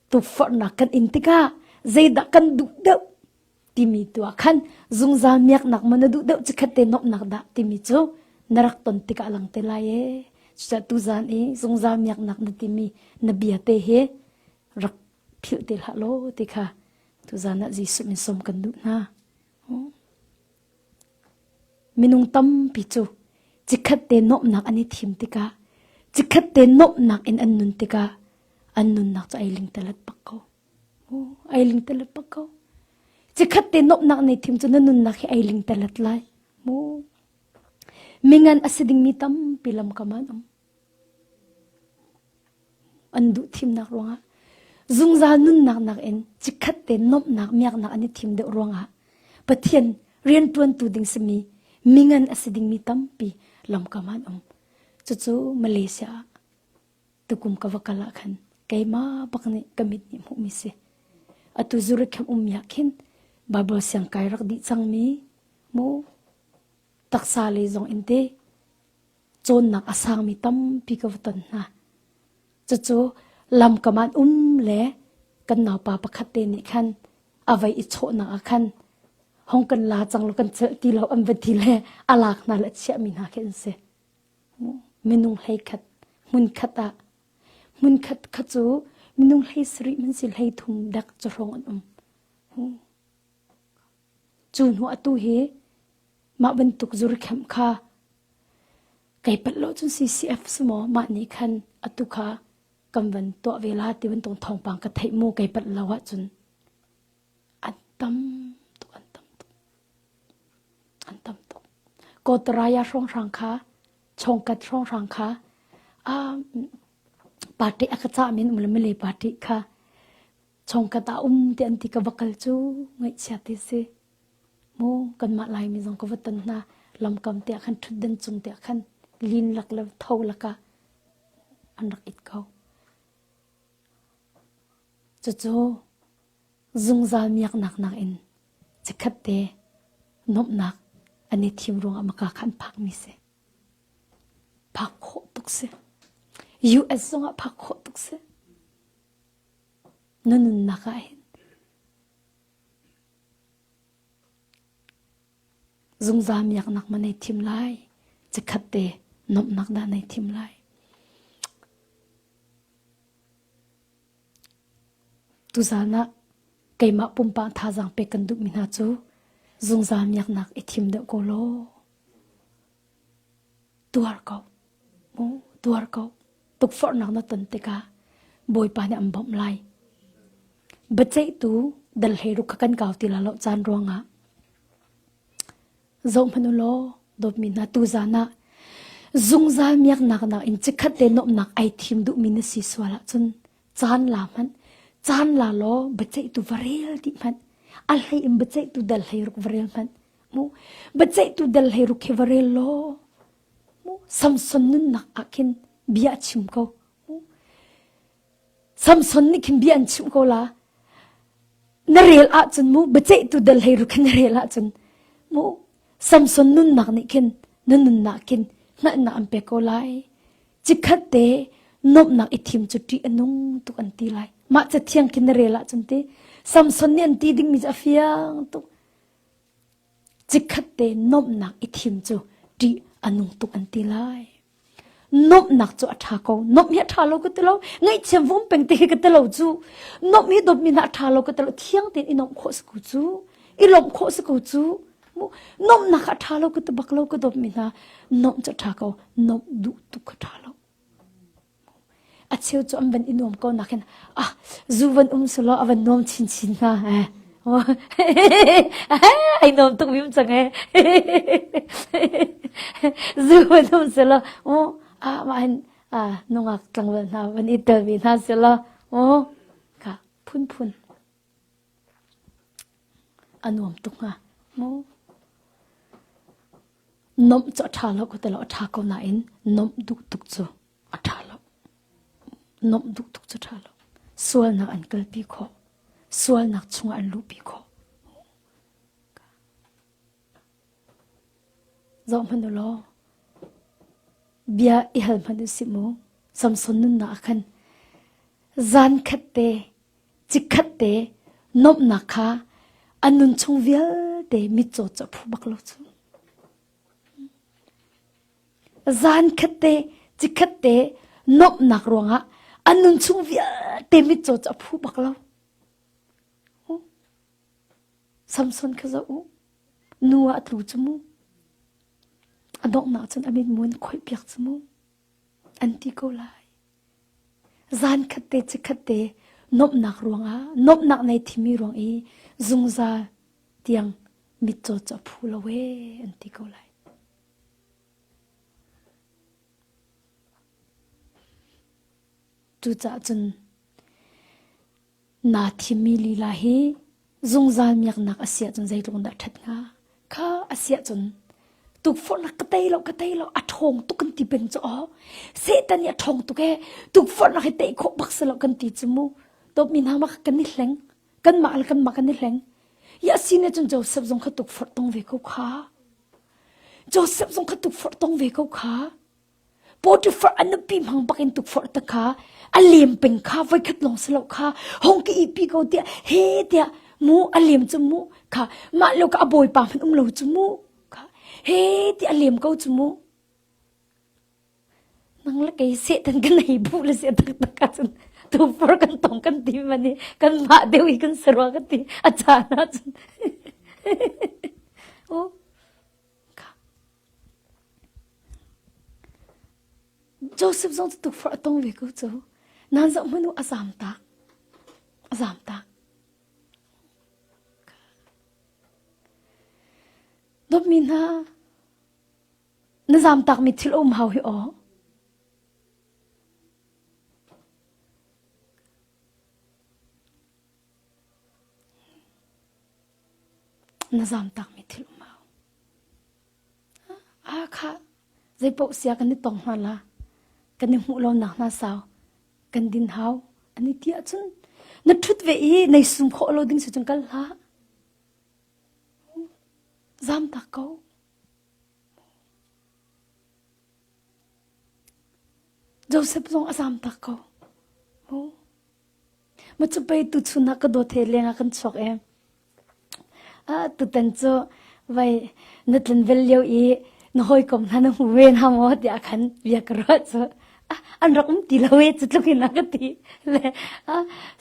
Speaker 1: Tukforhnak kan in tikah zeidah kan duh deuh timi tu ah khan zungzal miaknak maw na duh deuh cu khat te nuamhnak dah timi cu na rak ton tikah a lang te lai ee. Cucaah tuzan i zungzal miaknak na timi na bia te hi rak philh te hlah law ti kha tuzan ah Jesuh min sawm kan duh hna. Minung tampi cu cikhat te nuamhnak an i thim tikah, cikhat te nuamhnak in an nun tikah an nunnak cu ai ling telet bak ko. Ai ling telet bak ko. Cikhat te nuamhnak nei thim cu na nunnak hi ai ling telet lai. Mu. Mingan a si dingmi tampi lamkam an um. an duh thimnak ruangah zungzal nunnak nakin chikkhat te nomhnak miaknak an i thim deuh ruangah pathian riantuantu ding simi mingan a si dingmi tampi lamkam an um cucu malaysia tukum ka va kal ah khan keima bak nih ka mit nih hmuhmi si atu zuri khem um ya khin bible siang kai rak di cangmi mu taksa le zong in te cawnnak a sangmi tampi ka va ton hna. Cucu lamkam an um le kan naupa pakhat te nih khan avei i chawhnak ah khan hong kan la cang lo kan celh ti lo an va ti le a lak hna le chiah mi hna khi an si minung hlei khat hmun khat ah hmun khat kha cu minung hlei sarih man si hlei thum dak cahrawng an um Cu hnu atu hi mah bantuk zurkheamh kha kei palh lo cun CCF si maw mah nih khan atu kha kan van tuah ve la ti bantuk thawngpang ka theih mu kei palh lo ahcun an tam tuk an tam tuk an tam tuk Kotaraya hrawnghrang kha Chongkat hrawnghrang kha a party a ka cah min um le mile party kha chawngkat ah um ti an ti ka va kal cu ngaihchia ti si mu kanmah laimi zong ka va ton hna lamkam te ah khan ṭhutdan cung te ah khan lin lak le tho lakah an rak it ko cucu zungzal miaknak nakin cikhat te nomnak an i thim ruang ah maka khan phak mi si phak khawh tuk si US zong ah phak khawh tuk si Na nunnak ah hin zungzal miaknak maw nei thim lai, chikkhat te nuamhnak dah nei thim lai. Tuzaan ah keimah pumpak thazaang pek kan duhmi hna cu zungzal miaknak i thim deuh ko law. Tuar ko, tuar ko. Tukforhnak na ton tikah Bawipa nih an bawmh lai. Biaceihtu dal he ruk kha kan kau ti la lo caan ruangah. Zohmanh u law, dawtmi hna tu zan ah zungzal miaknak nak in cikhat le nuamhnak ai thim duhmi na si sual ahcun Caan la hmanh, caan la law biaceihtu va rel dih hmanh. A hlei in biaceihtu dal hlei ruk va rel hmanh. Mu biaceihtu dal hlei ruk khi va rel law mu Samson nunnak ah khin bia a chim ko. Mu Samson nih khin bia an chim ko la. Na rel ahcun mu biaceihtu dal hlei ruk khi na rel ahcun mu Samson nunnak nih khin na nunnak khin hngalhnak an pek ko lai. Chikkhat te nuamhnak i thim cu ṭih a nung tuk an ti lai. Mah ca thiang khin na rel ahcun ti Samson nih an ti dingmi cu a fiang tuk. Chikkhat te nuamhnak i thim cu ṭih a nung tuk an ti lai. Nuamhnak cu a ṭha ko. Nuamh hi a ṭha lo ka ti lo. Ngaihthiam vom peng ti khi ka ti lo cu. Nuamh hi dawtmi hna a ṭha lo ka ti lo. Thiang tein i nuamh khawh si ku cu. I lawmh khawh si ku cu. Nomnak a ṭha lo ka ti bak lo ka dawpmi hna nomh cu ṭha ko nomh duh tuk a ṭha lo. A cheu cu an van i nuam ko nakin ah zu van um su law a van nuam chinchin hna eh. ai nuam tuk mim cang eh. zu van um su law oh ah mah hin ah nungak tlangwal hna van i telmi hna su law oh ka phun phun A nuam tuk hnga mu. Nomh cu a ṭha lo ko ti lo, a ṭha ko nain nomh duh tuk cu a ṭha lo. Nomh duh tuk cu ṭha lo. Sualnak an kalpi khawh. Sualnak chungah an luhpi khawh. Zoh hmanh u law, bia i hal hmanh u si mu. Samson nunnak ah khan zan khat te Chikkhat te nuamhnak kha a nun chung vialte mitcaw cu a phu bak lo cu. Zankhat te, chikkhat te nuamhnak ruangah a nun chung vialte mitcaw cu a phu bak lo. Uh. Samson kha za u, nu ah a tlu cu mu. A donghnak cun a mitmun khoih piak cu mu. An ti ko lai. Zankhat te chikkhat te nuamhnak ruangah nuamhnak nei thimi ruang i zungzal tiang mitcaw cu a phu lo ee an ti ko lai. Cucaah cun Naa thimmi lila hi zungzal miaknak a si ahcun zeitluk in dah ṭhat hnga? Kha a si ahcun tukforhnak ka tei lo, ka tei lo, a ṭhawng tuk kan ti peng cu aw. Satan nih a ṭhawng tuk ee, tukforhnak hi tei khawh bak si lo kan ti cu mu. Tawpmi hna mah kan i hleng, kanmah le kanmah kan i hleng. Ya si nih cun Josef zong kha tukforh tong ve ko kha. Josef zong kha tukforh tong ve ko kha. Potifar a nupi hmang bakin tukforh ta kha a lem peng kha voikhat lawng si lo kha hong ka ihpi ko tiah he tiah mu a lem cu mu kha mah lo ka a bawipa hman um lo cu mu kha he ti a lem ko cu mu nang la kei setan kan nei bu le se tak tak ka cun tu fur kan tong kan ti mani kan ma deu i kan sarwa kan ti a cha na cun o Joseph zong cu tukforh a tong ve ko co. Nan zoh hmanu a zam tak. A zam tak. Dopmi hna, na zam tak mi thil um hau hi aw. Na zam tak mi thil um hau. Aakhah, zeipaoh sia kan i tong hna la, kan i hmuh lonak hna sau kan din hau, an i ti ahcun na ṭhut ve i nei sum khawh lo ding si cun kal hlah. Zam tak ko. Josef zong a zam tak ko. Macapei tuchun ah ka dawt he leng ah kan chuak i tutan cu vai na tlanvel lio i na hawikom hna na hmu ve hna maw tiah khan bia ka ruah cu an rak um ti lo i cu tluk in a ka ti le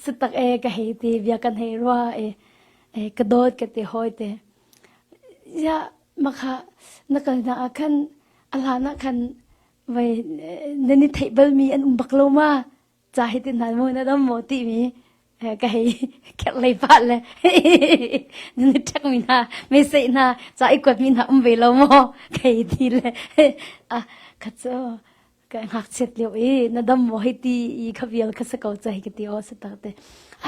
Speaker 1: satak e ka hei ti bia kan hei rua i ka dawt ka ti hawi te ya makha na kalnak ah khan a hlan ah khan vai nan i theih balmi an um bak lo ma ca hi tin hal mu na dom mo ti mi ka hei kherh lei pa le na thak mi hna me sei hna ca i kuat mi hna um ve lo mo khei ti le a kha cho ka ngak chet leo i na dom mo hei ti i kha vial kha sa ko cha hi ti o sa ta te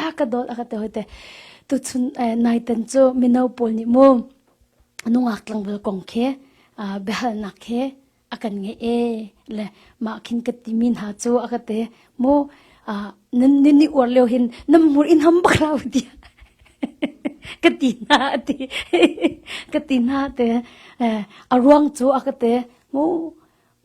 Speaker 1: a ka dol aka te hoite tu chun nai ten chu mino pol ni mu nungak tlangvel kong khe behal nak khe a kan ngeih e le mah khin ka timi hna cu a ka te mo nan nin ni uar leo hin nam hmur in ham bak la ti ka ti na ti ka ti na te a ruang cu a ka te mo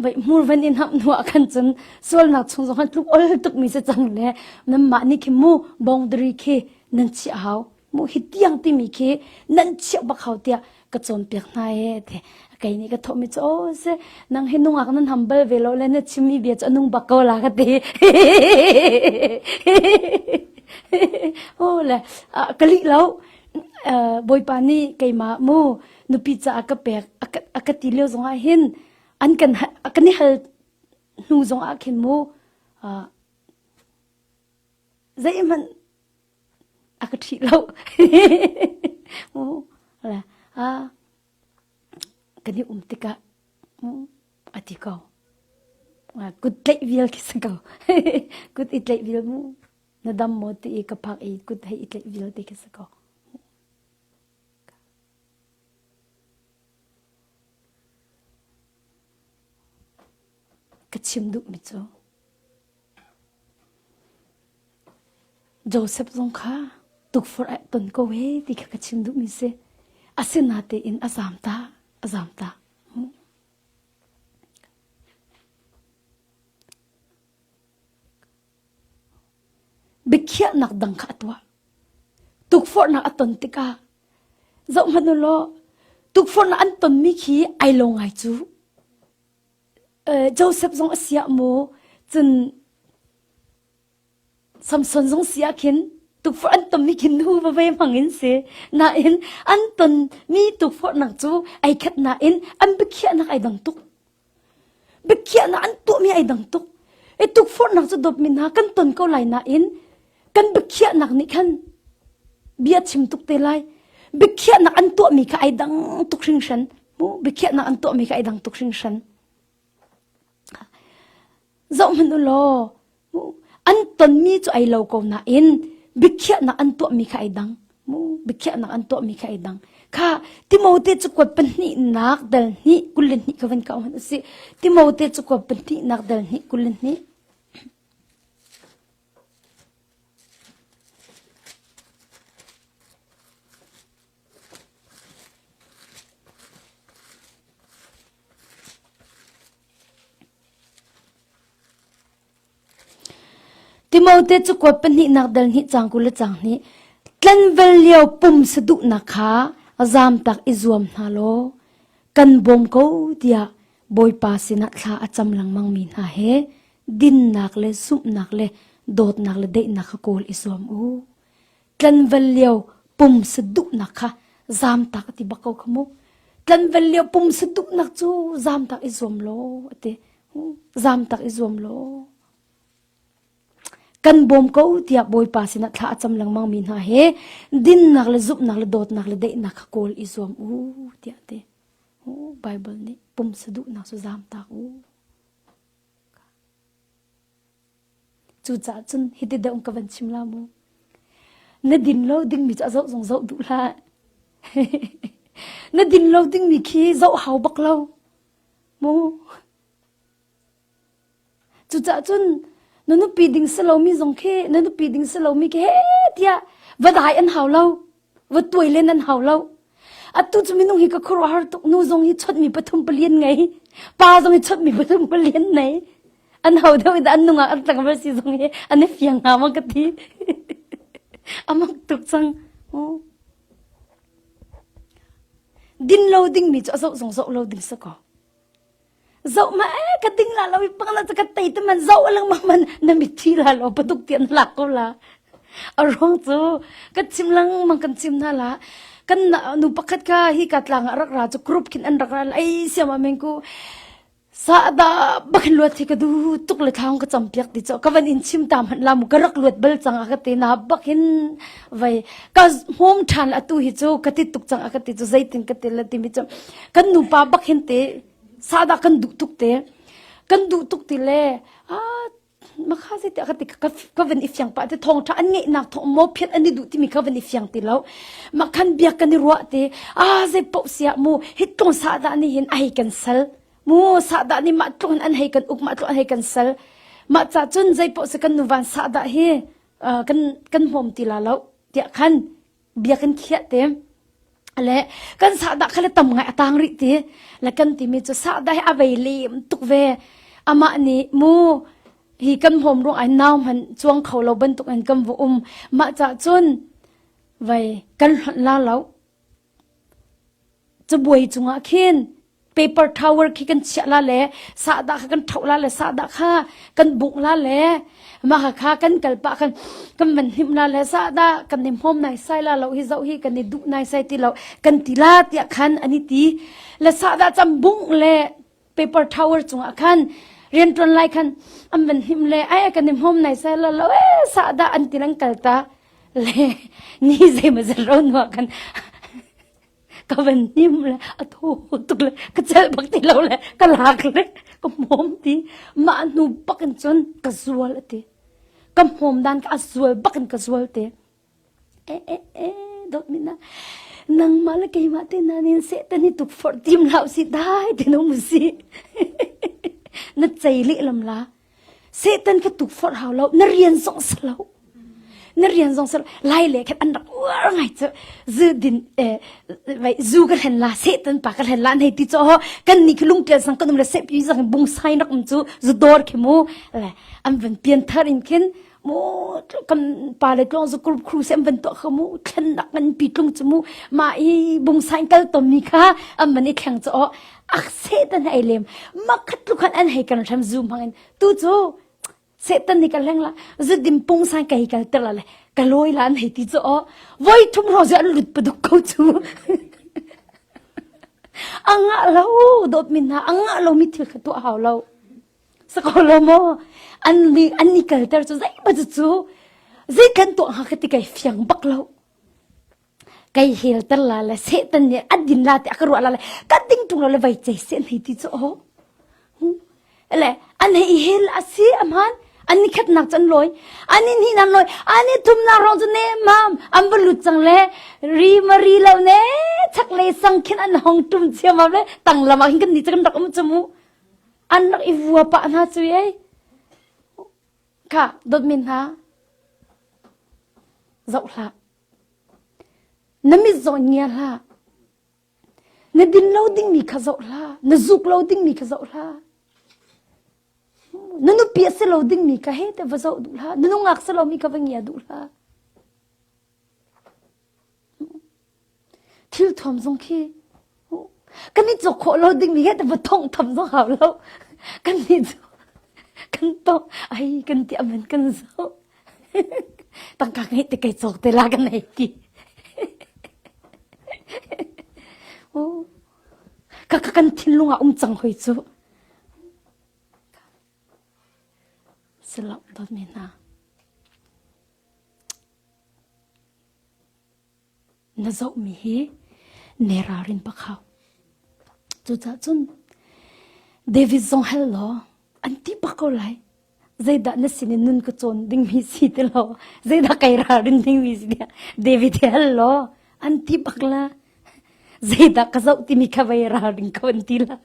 Speaker 1: vai mur van in hap nuwa khan chun sol nak chung zong han tluk ol tuk mi se chang le nam ma ni khi mu boundary khi nan chi hau muhi tiang timi khi nan chiah bak hau tiah ka cawnpiak hna e te kei nih ka thomi cu o se nang hi nungak nan hambal ve lo le na chimmi bia cu nung bak ko la ka ti o le ka li lo bawipa nih keimah mu nupi caah ka pek a ka ti lio zongah hin an kan kan i hal hnu zongah khin mu zeihmanh a ka ṭhih lo. kan i um tikah a ti ko. Kut tlaih vial khi si ko. Kut i tlaih vial mu. Na dam maw ti i ka phak i kut hei i tlaih vial ti khi si ko. Ka chim duhmi cu, Josef zong kha tukforh ah ton ko e ti kha ka chim duhmi si. Asinatein a zamta, a zamta. Biakhiahnak dang kha a tuah. Tukforhnak a ton tikah, zoh hmanu law, tukforhnak an tonmi khi ai lo ngai cu. Josef zong a siah maw, cun Samson zong si ah khin tukforh an tonmi khin hu veve hmangin si. Nain an tonmi tukforhnak cu ai khat nain an biakhiahnak ai dang tuk. Biakhiahnak an tuahmi ai dang tuk. I tukforhnak cu dawpmi hna kan ton ko lai nain kan biakhiahnak nih khan bia chim tuk te lai biakhiahnak an tuahmi kha ai dang tuk hringhran biakhiahnak an tuahmi kha ai dang tuk hringhran zohhmanh u law an tonmi cu ai lo ko nain biakhiahnak an tuahmi kha ai dang biakhiahnak an tuahmi kha ai dang kha timote cu kuat pahnihnak dal hnih kul le hnih kha van ka ohan a si timote cu kuat pahnihnak dal hnih kul le hnih Timote cu kuat pahnihnak dal hnih cang kul le cang hnih tlanvel lio pum saduhnak kha zamtak i zuam hna law kan bawm ko tiah Bawipa sinah thla a cam lengmangmi hna he dinnak le zumhnak le dawtnak le daihnak kha kawl i zuam u. Tlanval lio pumsa duhnak kha zamtak a ti bak ko kha mu. Tlanval lio pumsa duhnak cu zamtak i zuam law a ti. Zamtak i zuam law. Kan bawm ko tiah Bawipa sinah thla a cam lengmangmi hna he dinnak le zumhnak le dawtnak le daihnak kha kawl i zuam u tiah a ti. Baibal nih pumsa duhnak cu zamtak u. Cucaah cun hiti deuh ka van chim la mu. Na din lo dingmi cu a zoh zong zoh duh hlah. na din lo dingmi khi zoh hau bak lo. Mu. Cucah cun na nupi ding si lomi zong khi na nupi ding si lomi khi he tiah va dai an hau lo. Va tuai len an hau lo. Atu cu minung hi ka khuaruahhar tuk nu zong hi chawtmi pathum pali an ngei. Pa zong hi chawtmi pathum pali an nei. An hau deuh i an nungak an tlangval si zong hi an i fiang hna ma ka ti. A mak tuk cang. Oh. Din lo dingmi cu a zoh zong zoh lo ding si kaw. Zoh ma e ka ding la lo i pang na ka tei te man zoh lengmang man na mitthi la lo patuk ti an lak ko la a ruang cu ka chim lengmang kan chim na la kan nu pakhat ka hi ka tlang rak ra chu group kin an rak ra ai siam a meng ku sa da bakin luat hi ka du tuk le thang ka cham piak ti cho ka van in chim ta man la mu ka rak luat bal chang a ka te na bakin vai ka hmom than la tu hi chu ka ti tuk chang ka ti chu zeitin ka til la ti mi chu kan nu pa bak hin te sada kan du tuk te kan du tuk ti le a makha si te ka ti ka ka van ifyang pa te thong tha an nge nak thong mo phet ani du ti mi ka van ifyang ti lo makhan biak kan ni ruwa te a ze po sia mu hit tlong sa da ni hin ai kan sal mu sa da ni ma tlong an hei kan up ma tlong an hei kan sal ma cha chun zai po se kan nu van sa da hi kan kan hmawm ti la lo tiah khan bia kan khiah te le kan sahdah kha le tam ngai a tang rih ti le kan timi cu sahdah hi a vei leem tuk ve amah nih mu hi kan hom ruang ai nau man chuang kho lo bantuk in kan vu um mah cha cun vei kan hlonh la lo Cabuai cungah khin paper towel khi kan chiah la le sahdah kha kan thoh la le sahdah kha kan bungh la le mah kha kan kal pah kan kan van hnim la le sahdah kan i hmawm nai sai la lo hi zoh hi kan i duh nai sai ti lo kan ti la tiah khan an i ti le sahdah cam bungh le paper tower cungah khan riantuan lai khan an van him le ai kan i hmom nai sa lo lo e sa da an ti lang kal ta le ni ze ma zan ro no kan ka van him le athu tuk le ka chel bak ti lo le ka lak le ka hmom ti ma nu bakin chun ka zual ati ka hmom dan ka zual bakin ka zual te dawtmi na nangmah le keimah te nan in seh tan i tup forh tim hlah usih dai te no mu si na chei lehlam la setan ka tuk forh hau lo na rian zong sa lo na rian zong sa lo lai le khat an rak uar ngai chu zu din eh vai zu ka hlen la setan pa ka hlen la nei ti cho ho kan ni ki lung tel sang kan um le se pi sang bung sai rak um chu zu dor khi mu le am van pian thar in khin maw kan pale tluang zu group crew sem van tuah kha mu thlen nak ngan pi tlung chu mu ma i bung sain kal to mi kha am man i thleng cho ak se tan ai lem ma khat lu khan an hei kan tham zoom hangin tu chu setan ni kaleng la zu dim pung sang kai kal ter la le kaloi lan hei ti cho voi thum ro zu an lut paduk ko chu anga lo dot min na anga lo mi thil kha tu hau lo Sako lo maw? An an ni kalter cu zeiba cu zei kan tuah ha ka ti kai fiang bak lo. Kai helter la le setan nih an din la te aka ruah la le ka ding tung la le vai chei se nei ti cu o. Le an hei hel asi amhan an ni khat nak chan loi ani ni nan loi ani thum na rong chu ne mam am bu lut chang le ri ma ri lo ne chak le sang khin an hong tum chiam le tang lama hin kan ni chakan rak um chamu An rak i vua pah hna cu ei. Kha, dawt min hna. Zoh hlah. Na mit zaw in ngia hlah. Na din lo dingmi kha zoh hlah. Na zuk lo dingmi kha zoh hlah. Na nupi a si lo dingmi ka he te va zoh duh hlah. Na nungak si lomi ka va ngia duh hlah. thil thuam zong khi kan i cawk khawh lo ding mi va thong tham zong hau lo kan ni cu kan tong ai kan ti aman kan zo tangka ngai te kai cawk te la kan ai ki o ka ka kan thin lunga um chang hoi chu selo dot me na Na zohmi hi ne ralrin pak hau. Cucaah cun David zong hal law an ti pak ko lai. Zeidah na sin in nun ka cawn dingmi si ti lo. Zeidah kai ralrin dingmi si ti David hi hal law an ti pak la. Zeidah ka zoh timi kha vai ralring ko an ti la.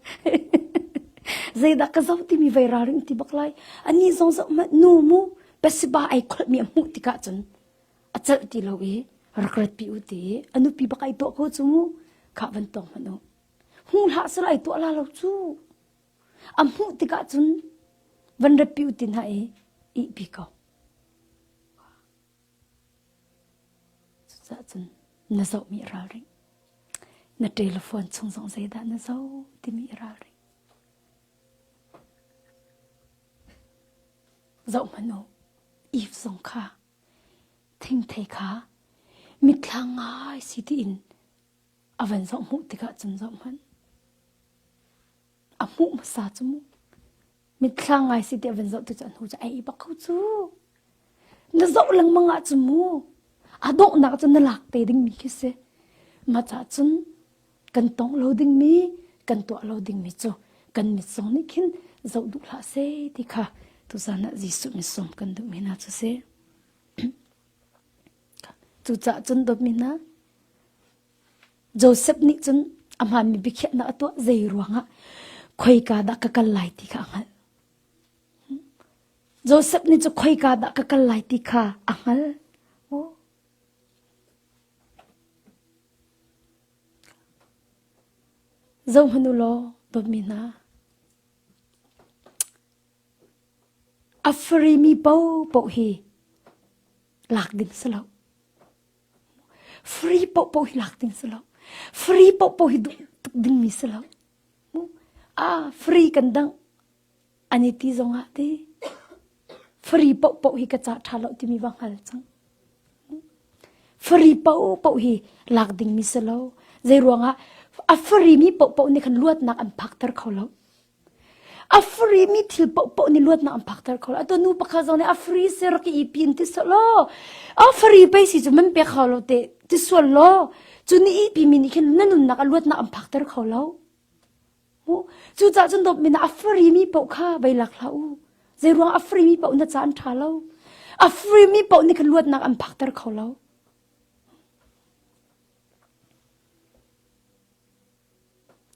Speaker 1: zeidah ka zoh timi vai ralring ti bak lai. Ani zong zoh ma nu mu pasiba ai kholmi a hmuh tikah cun a celh ti lo i rak ratpi u ti a nupi bak ai tuah kho cu khah van tuang hmanh u hmu hlah sir ai tuah la lo cu a hmuh tikah cun van ratpi u ti hna i ihpi ko cucaah cun na zohmi ralring na telephone chung zong zeidah na zo timi ralring zoh hmanh u if zong kha Thingthei kha mitthla ngai si tiin a van zoh hmuh tikah cun zoh hmanh. A hmuh hmasa cu mu. Mitthla ngai si ti a van zoh tu cu a hnu cu ai bak kho cu. Na zoh lengmang ah cu mu. A donghnak cu na lak te dingmi khi si. Mah cah cun kan tong lo dingmi kan tuah lo dingmi cu kan mitsung nih khin zoh duh hlah se ti kha tuzan ah Jesuh misum kan duhmi hna cu si cucaah cun dawtmi hna Joseph nih cun a hmaanmi biakhiahnak a tuah zei ruangah khoika dah ka kal lai ti kha a hngalh Joseph nih cu khoika dah ka kal lai ti kha a hngal Zohhmanh u law dawtmi hna, a farimi paohpaoh hi lak ding si lo. Free paohpaoh hi lak ding si lo. Free paohpaoh hi duh tuk dingmi si lo. A free kan dang. An i ti zongah ti fari pohpoh hi ka cah ṭha lo timi va hngal cang. Fari pohpoh hi lak dingmi si lo. Zei ruangah a farimi pohpoh nih khan luatnak an phakter kho lo. A farimi thil pohpoh nih luatnak an phakter kho lo. A to nu pakha zong nih a fari se rak i pin ti so lo. A fari pei si cu men pe kho lo te ti sual lo. Cu ni i pimi nih khin na nunnak a luatnak an phakter kho lo. Cucah cun dawpmin ah a farimi paoh kha vei lak hlah u. Zeiruang a farimi paoh na ca an ṭha lo. A farimi paoh nih ka luatnak an phakter kho lo.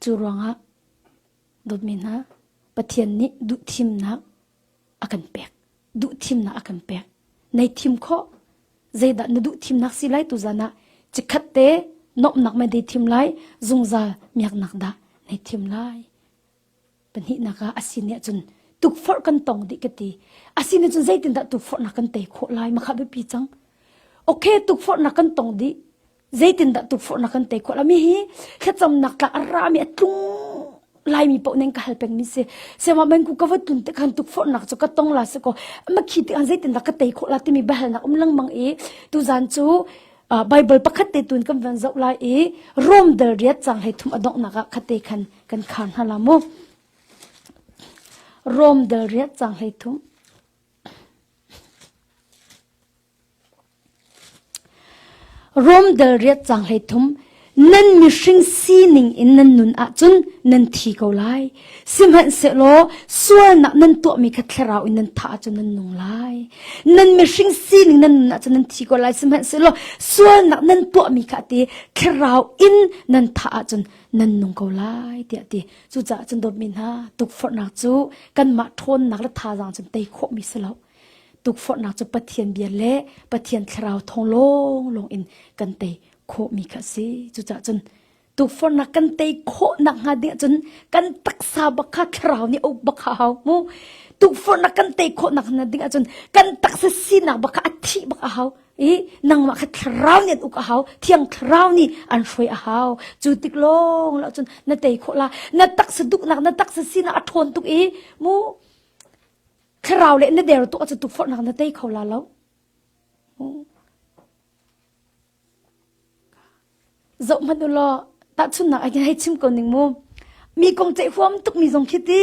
Speaker 1: Cu ruangah dawtmi hna, Pathian nih duhthimnak a kan pek. Duhthimnak a kan pek. Nei thim khawh. Zeidah na duhthimnak si lai tu zan ah cikhat te nomnak me dei thim lai zungzal miaknak dah nei thim lai. Panihnak ah asin nih cun tukforh kan tong dih ka ti. Asin nih cun zeitin dah tukforhnak kan tei khawh lai makha biapi cang. Okay tukforhnak kan tong dih. Zeitindah tukforhnak kan tei khawh lomi hi thlacamnak tlak a rami a tlung laimi paoh ning ka hal pengmi si siamah banku ka vat tun te khan tukforhnak cu ka tong la se ko ma khi ti khan zeitindah ka tei khawh la timi bahalnak um lengmang i tu zan cu Bible pakhat te tun kan van zoh lai i Rom dal riat cang hei thum adonghnak ah khate khan kan khan hna la mu Rom dal riat cang hei thum Rom dal riat cang hlei thum nan mihring sining in nan nun ahcun nan thi ko lai. Sihmanhsehlaw sualnak nan tuahmi kha thlarau in nan thah ahcun nan nung lai. Nan mihring sining nan nun ahcun nan thi ko lai. Sihmanhsehlaw sualnak nan tuahmi kha ti thlarau in nan thah ahcun nan nung ko lai tiah ti. Cucaah cun dawtmi hna tukforhnak cu kanmah ṭhawnnak le thazaang cun tei khawhmi si lo. tukforhnak cu Pathian bia le Pathian thlarau thong lawnglawng in kan tei khawhmi kha si. Cucah cun tukforhnak kan tei khawhnak hnga ding cun kan taksa bak kha thlarau nih uk bak kha hau mu. Tukforhnak kan tei khawhnak hnga ding ahcun kan taksa sinak bak kha a thih bak a hau i nangmah kha thlarau nih an uk a hau thiang thlarau nih an hruai a hau cu tik lawng lo cun na tei khawh la na taksa duknak na taksa sinak a ṭhawn tuk i mu Thlarau le na der tuah cu tu forhnak na tei kho la lo. Zoh hmanh u law tahchunnak ai hei chim ko ning mu. Mi kong ceih huam tuk mi zong khi ti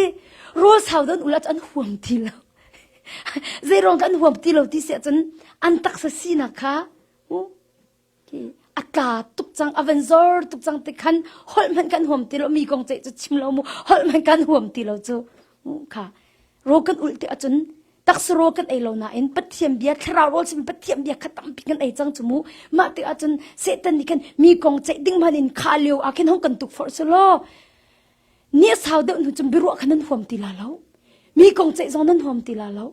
Speaker 1: rul sau don ula chu an huam ti lo. Zeirong kan huam ti lo ti se cun an taksa sinak kha a tla tuk cang a van zor tuk cang ti khan holh hmanh kan huam ti lo mi kong ceih cu chim lo mu holh hmanh kan huam ti lo cu kha ro kan ult te acun taksa ro kan ei lo nain pathian bia thlarau ro sin pathian bia kha tampi kan ei cang chumu mah te acun satan nih khan mi kong ceih ding man in kha leo a khin hong kan tuk for sulo ni sau deuh nu chum biruah khan nan huam ti la lo mi kong ceih zong nan huam ti la lo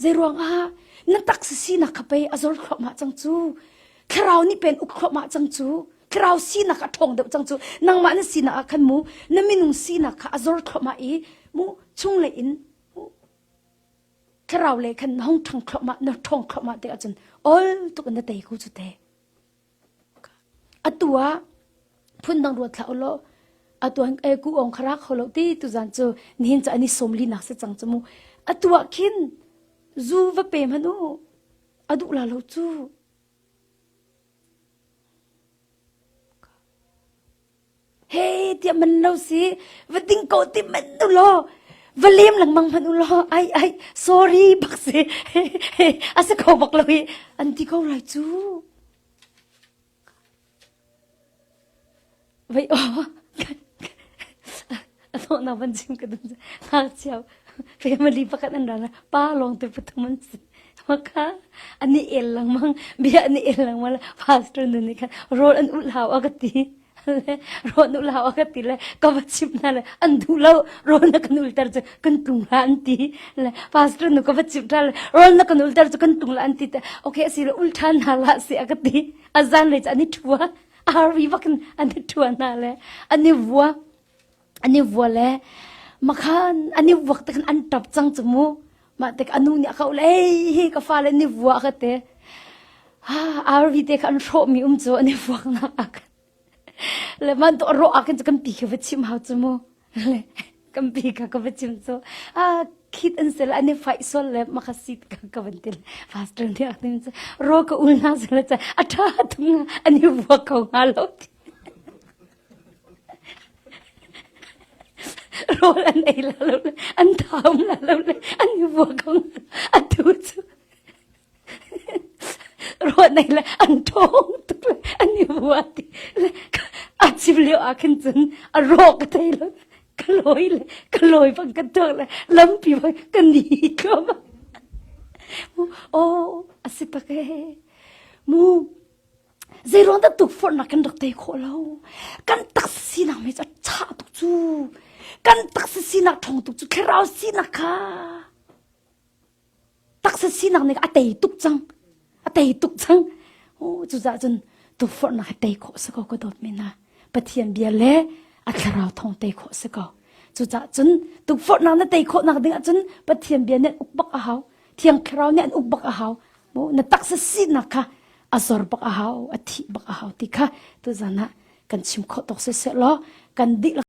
Speaker 1: Zeiruangah na taksa sinak kha pei a zor thluahmah cang cu. Thlarau nih pen uk thluahmah cang cu. Thlarau sinak a ṭhawng deuh cang cu. Nangmah na sinak ah khan mu, na minung sinak kha a zor thluahmah i mu chunglei in mu. Thlarau lei khan na hung ṭhang thluahmah, na ṭhawng thluahmah te ahcun ol tuk in na tei ko cu teh. Atu ah phundang ruat hlah ulaw atu an ei kuh awng kha ra kho lo ti tuzan cu nihin cu an i sawmli nak si cang cu mu. Atu ah khin zu va pe hmanh u a duh la lo cu. He tiah man lo si va ding ko ti manh ulaw va lem lengmang hmanh ulaw ai ai sorry bak si a si kho bak lo i an ti ko rai cu. Vai aw a thawhnak van chim ka dun ngakchia family pakhat an ran pa lawng tu pathum an si maka ani el langmang bia ani el langmang pastor nu nih khan road an ul hau aga ti le road ul hau aga ti le ka va chim na le an du lo road na kan ulter chu kan tung la an ti le pastor nu ka va chim ta le road na kan ulter chu kan tung la an ti te okay asi le ul than na la si aga ti azan le cha ni thua arvi bakin ani thua na le ani vua an i vua le makhan an i vuak te khan an ṭap cang cu mu mah tik anu nih a kau le hi ka fa le ni vua ka te ha arvi te kha an hrawh mi um cu an i vuak nak ak le man to ro ak cu kan pi ke va chim hau cu mu le kan pi ka ka va chim cu a khit an se la an i fai sol le makha sit ka ka van til faster ni ak tin cu ro ka ul na se la cha a tha tung an i vuak ko nga lo ti rawl an ei la lo le an tham la lo le an i vua kong atu cu ruat nei le an thong tuk le an i vua ti le a chim leo a khin cun a rawk ka thei lo ka loi le ka loi bang ka tuak le lampi bang ka ni tlom oh a si pak he mu Zeiruang dah tu forhnak kan rak tei khawh lo? Kan taksa sinak mei cu a chah tuk cu. Kan taksa sinak ṭhawng tuk cu thlarau sinak kha taksa sinak nih a tei tuk cang. A tei tuk cang. Oh, cucaah cun tukforhnak hi tei khawh si ko ka dawt men ha. Pathian bia le a thlarau thawng tei khawh si ko. Cucaah cun tukforhnak na tei khawhnak ding ahcun Pathian bia nih uk bak a hau. Thiang Thlarau nih an uk bak a hau. Na taksa sinak kha a zor bak a hau, a thih bak a hau ti kha tuzan ah kan chim khawh tok seh law kan dih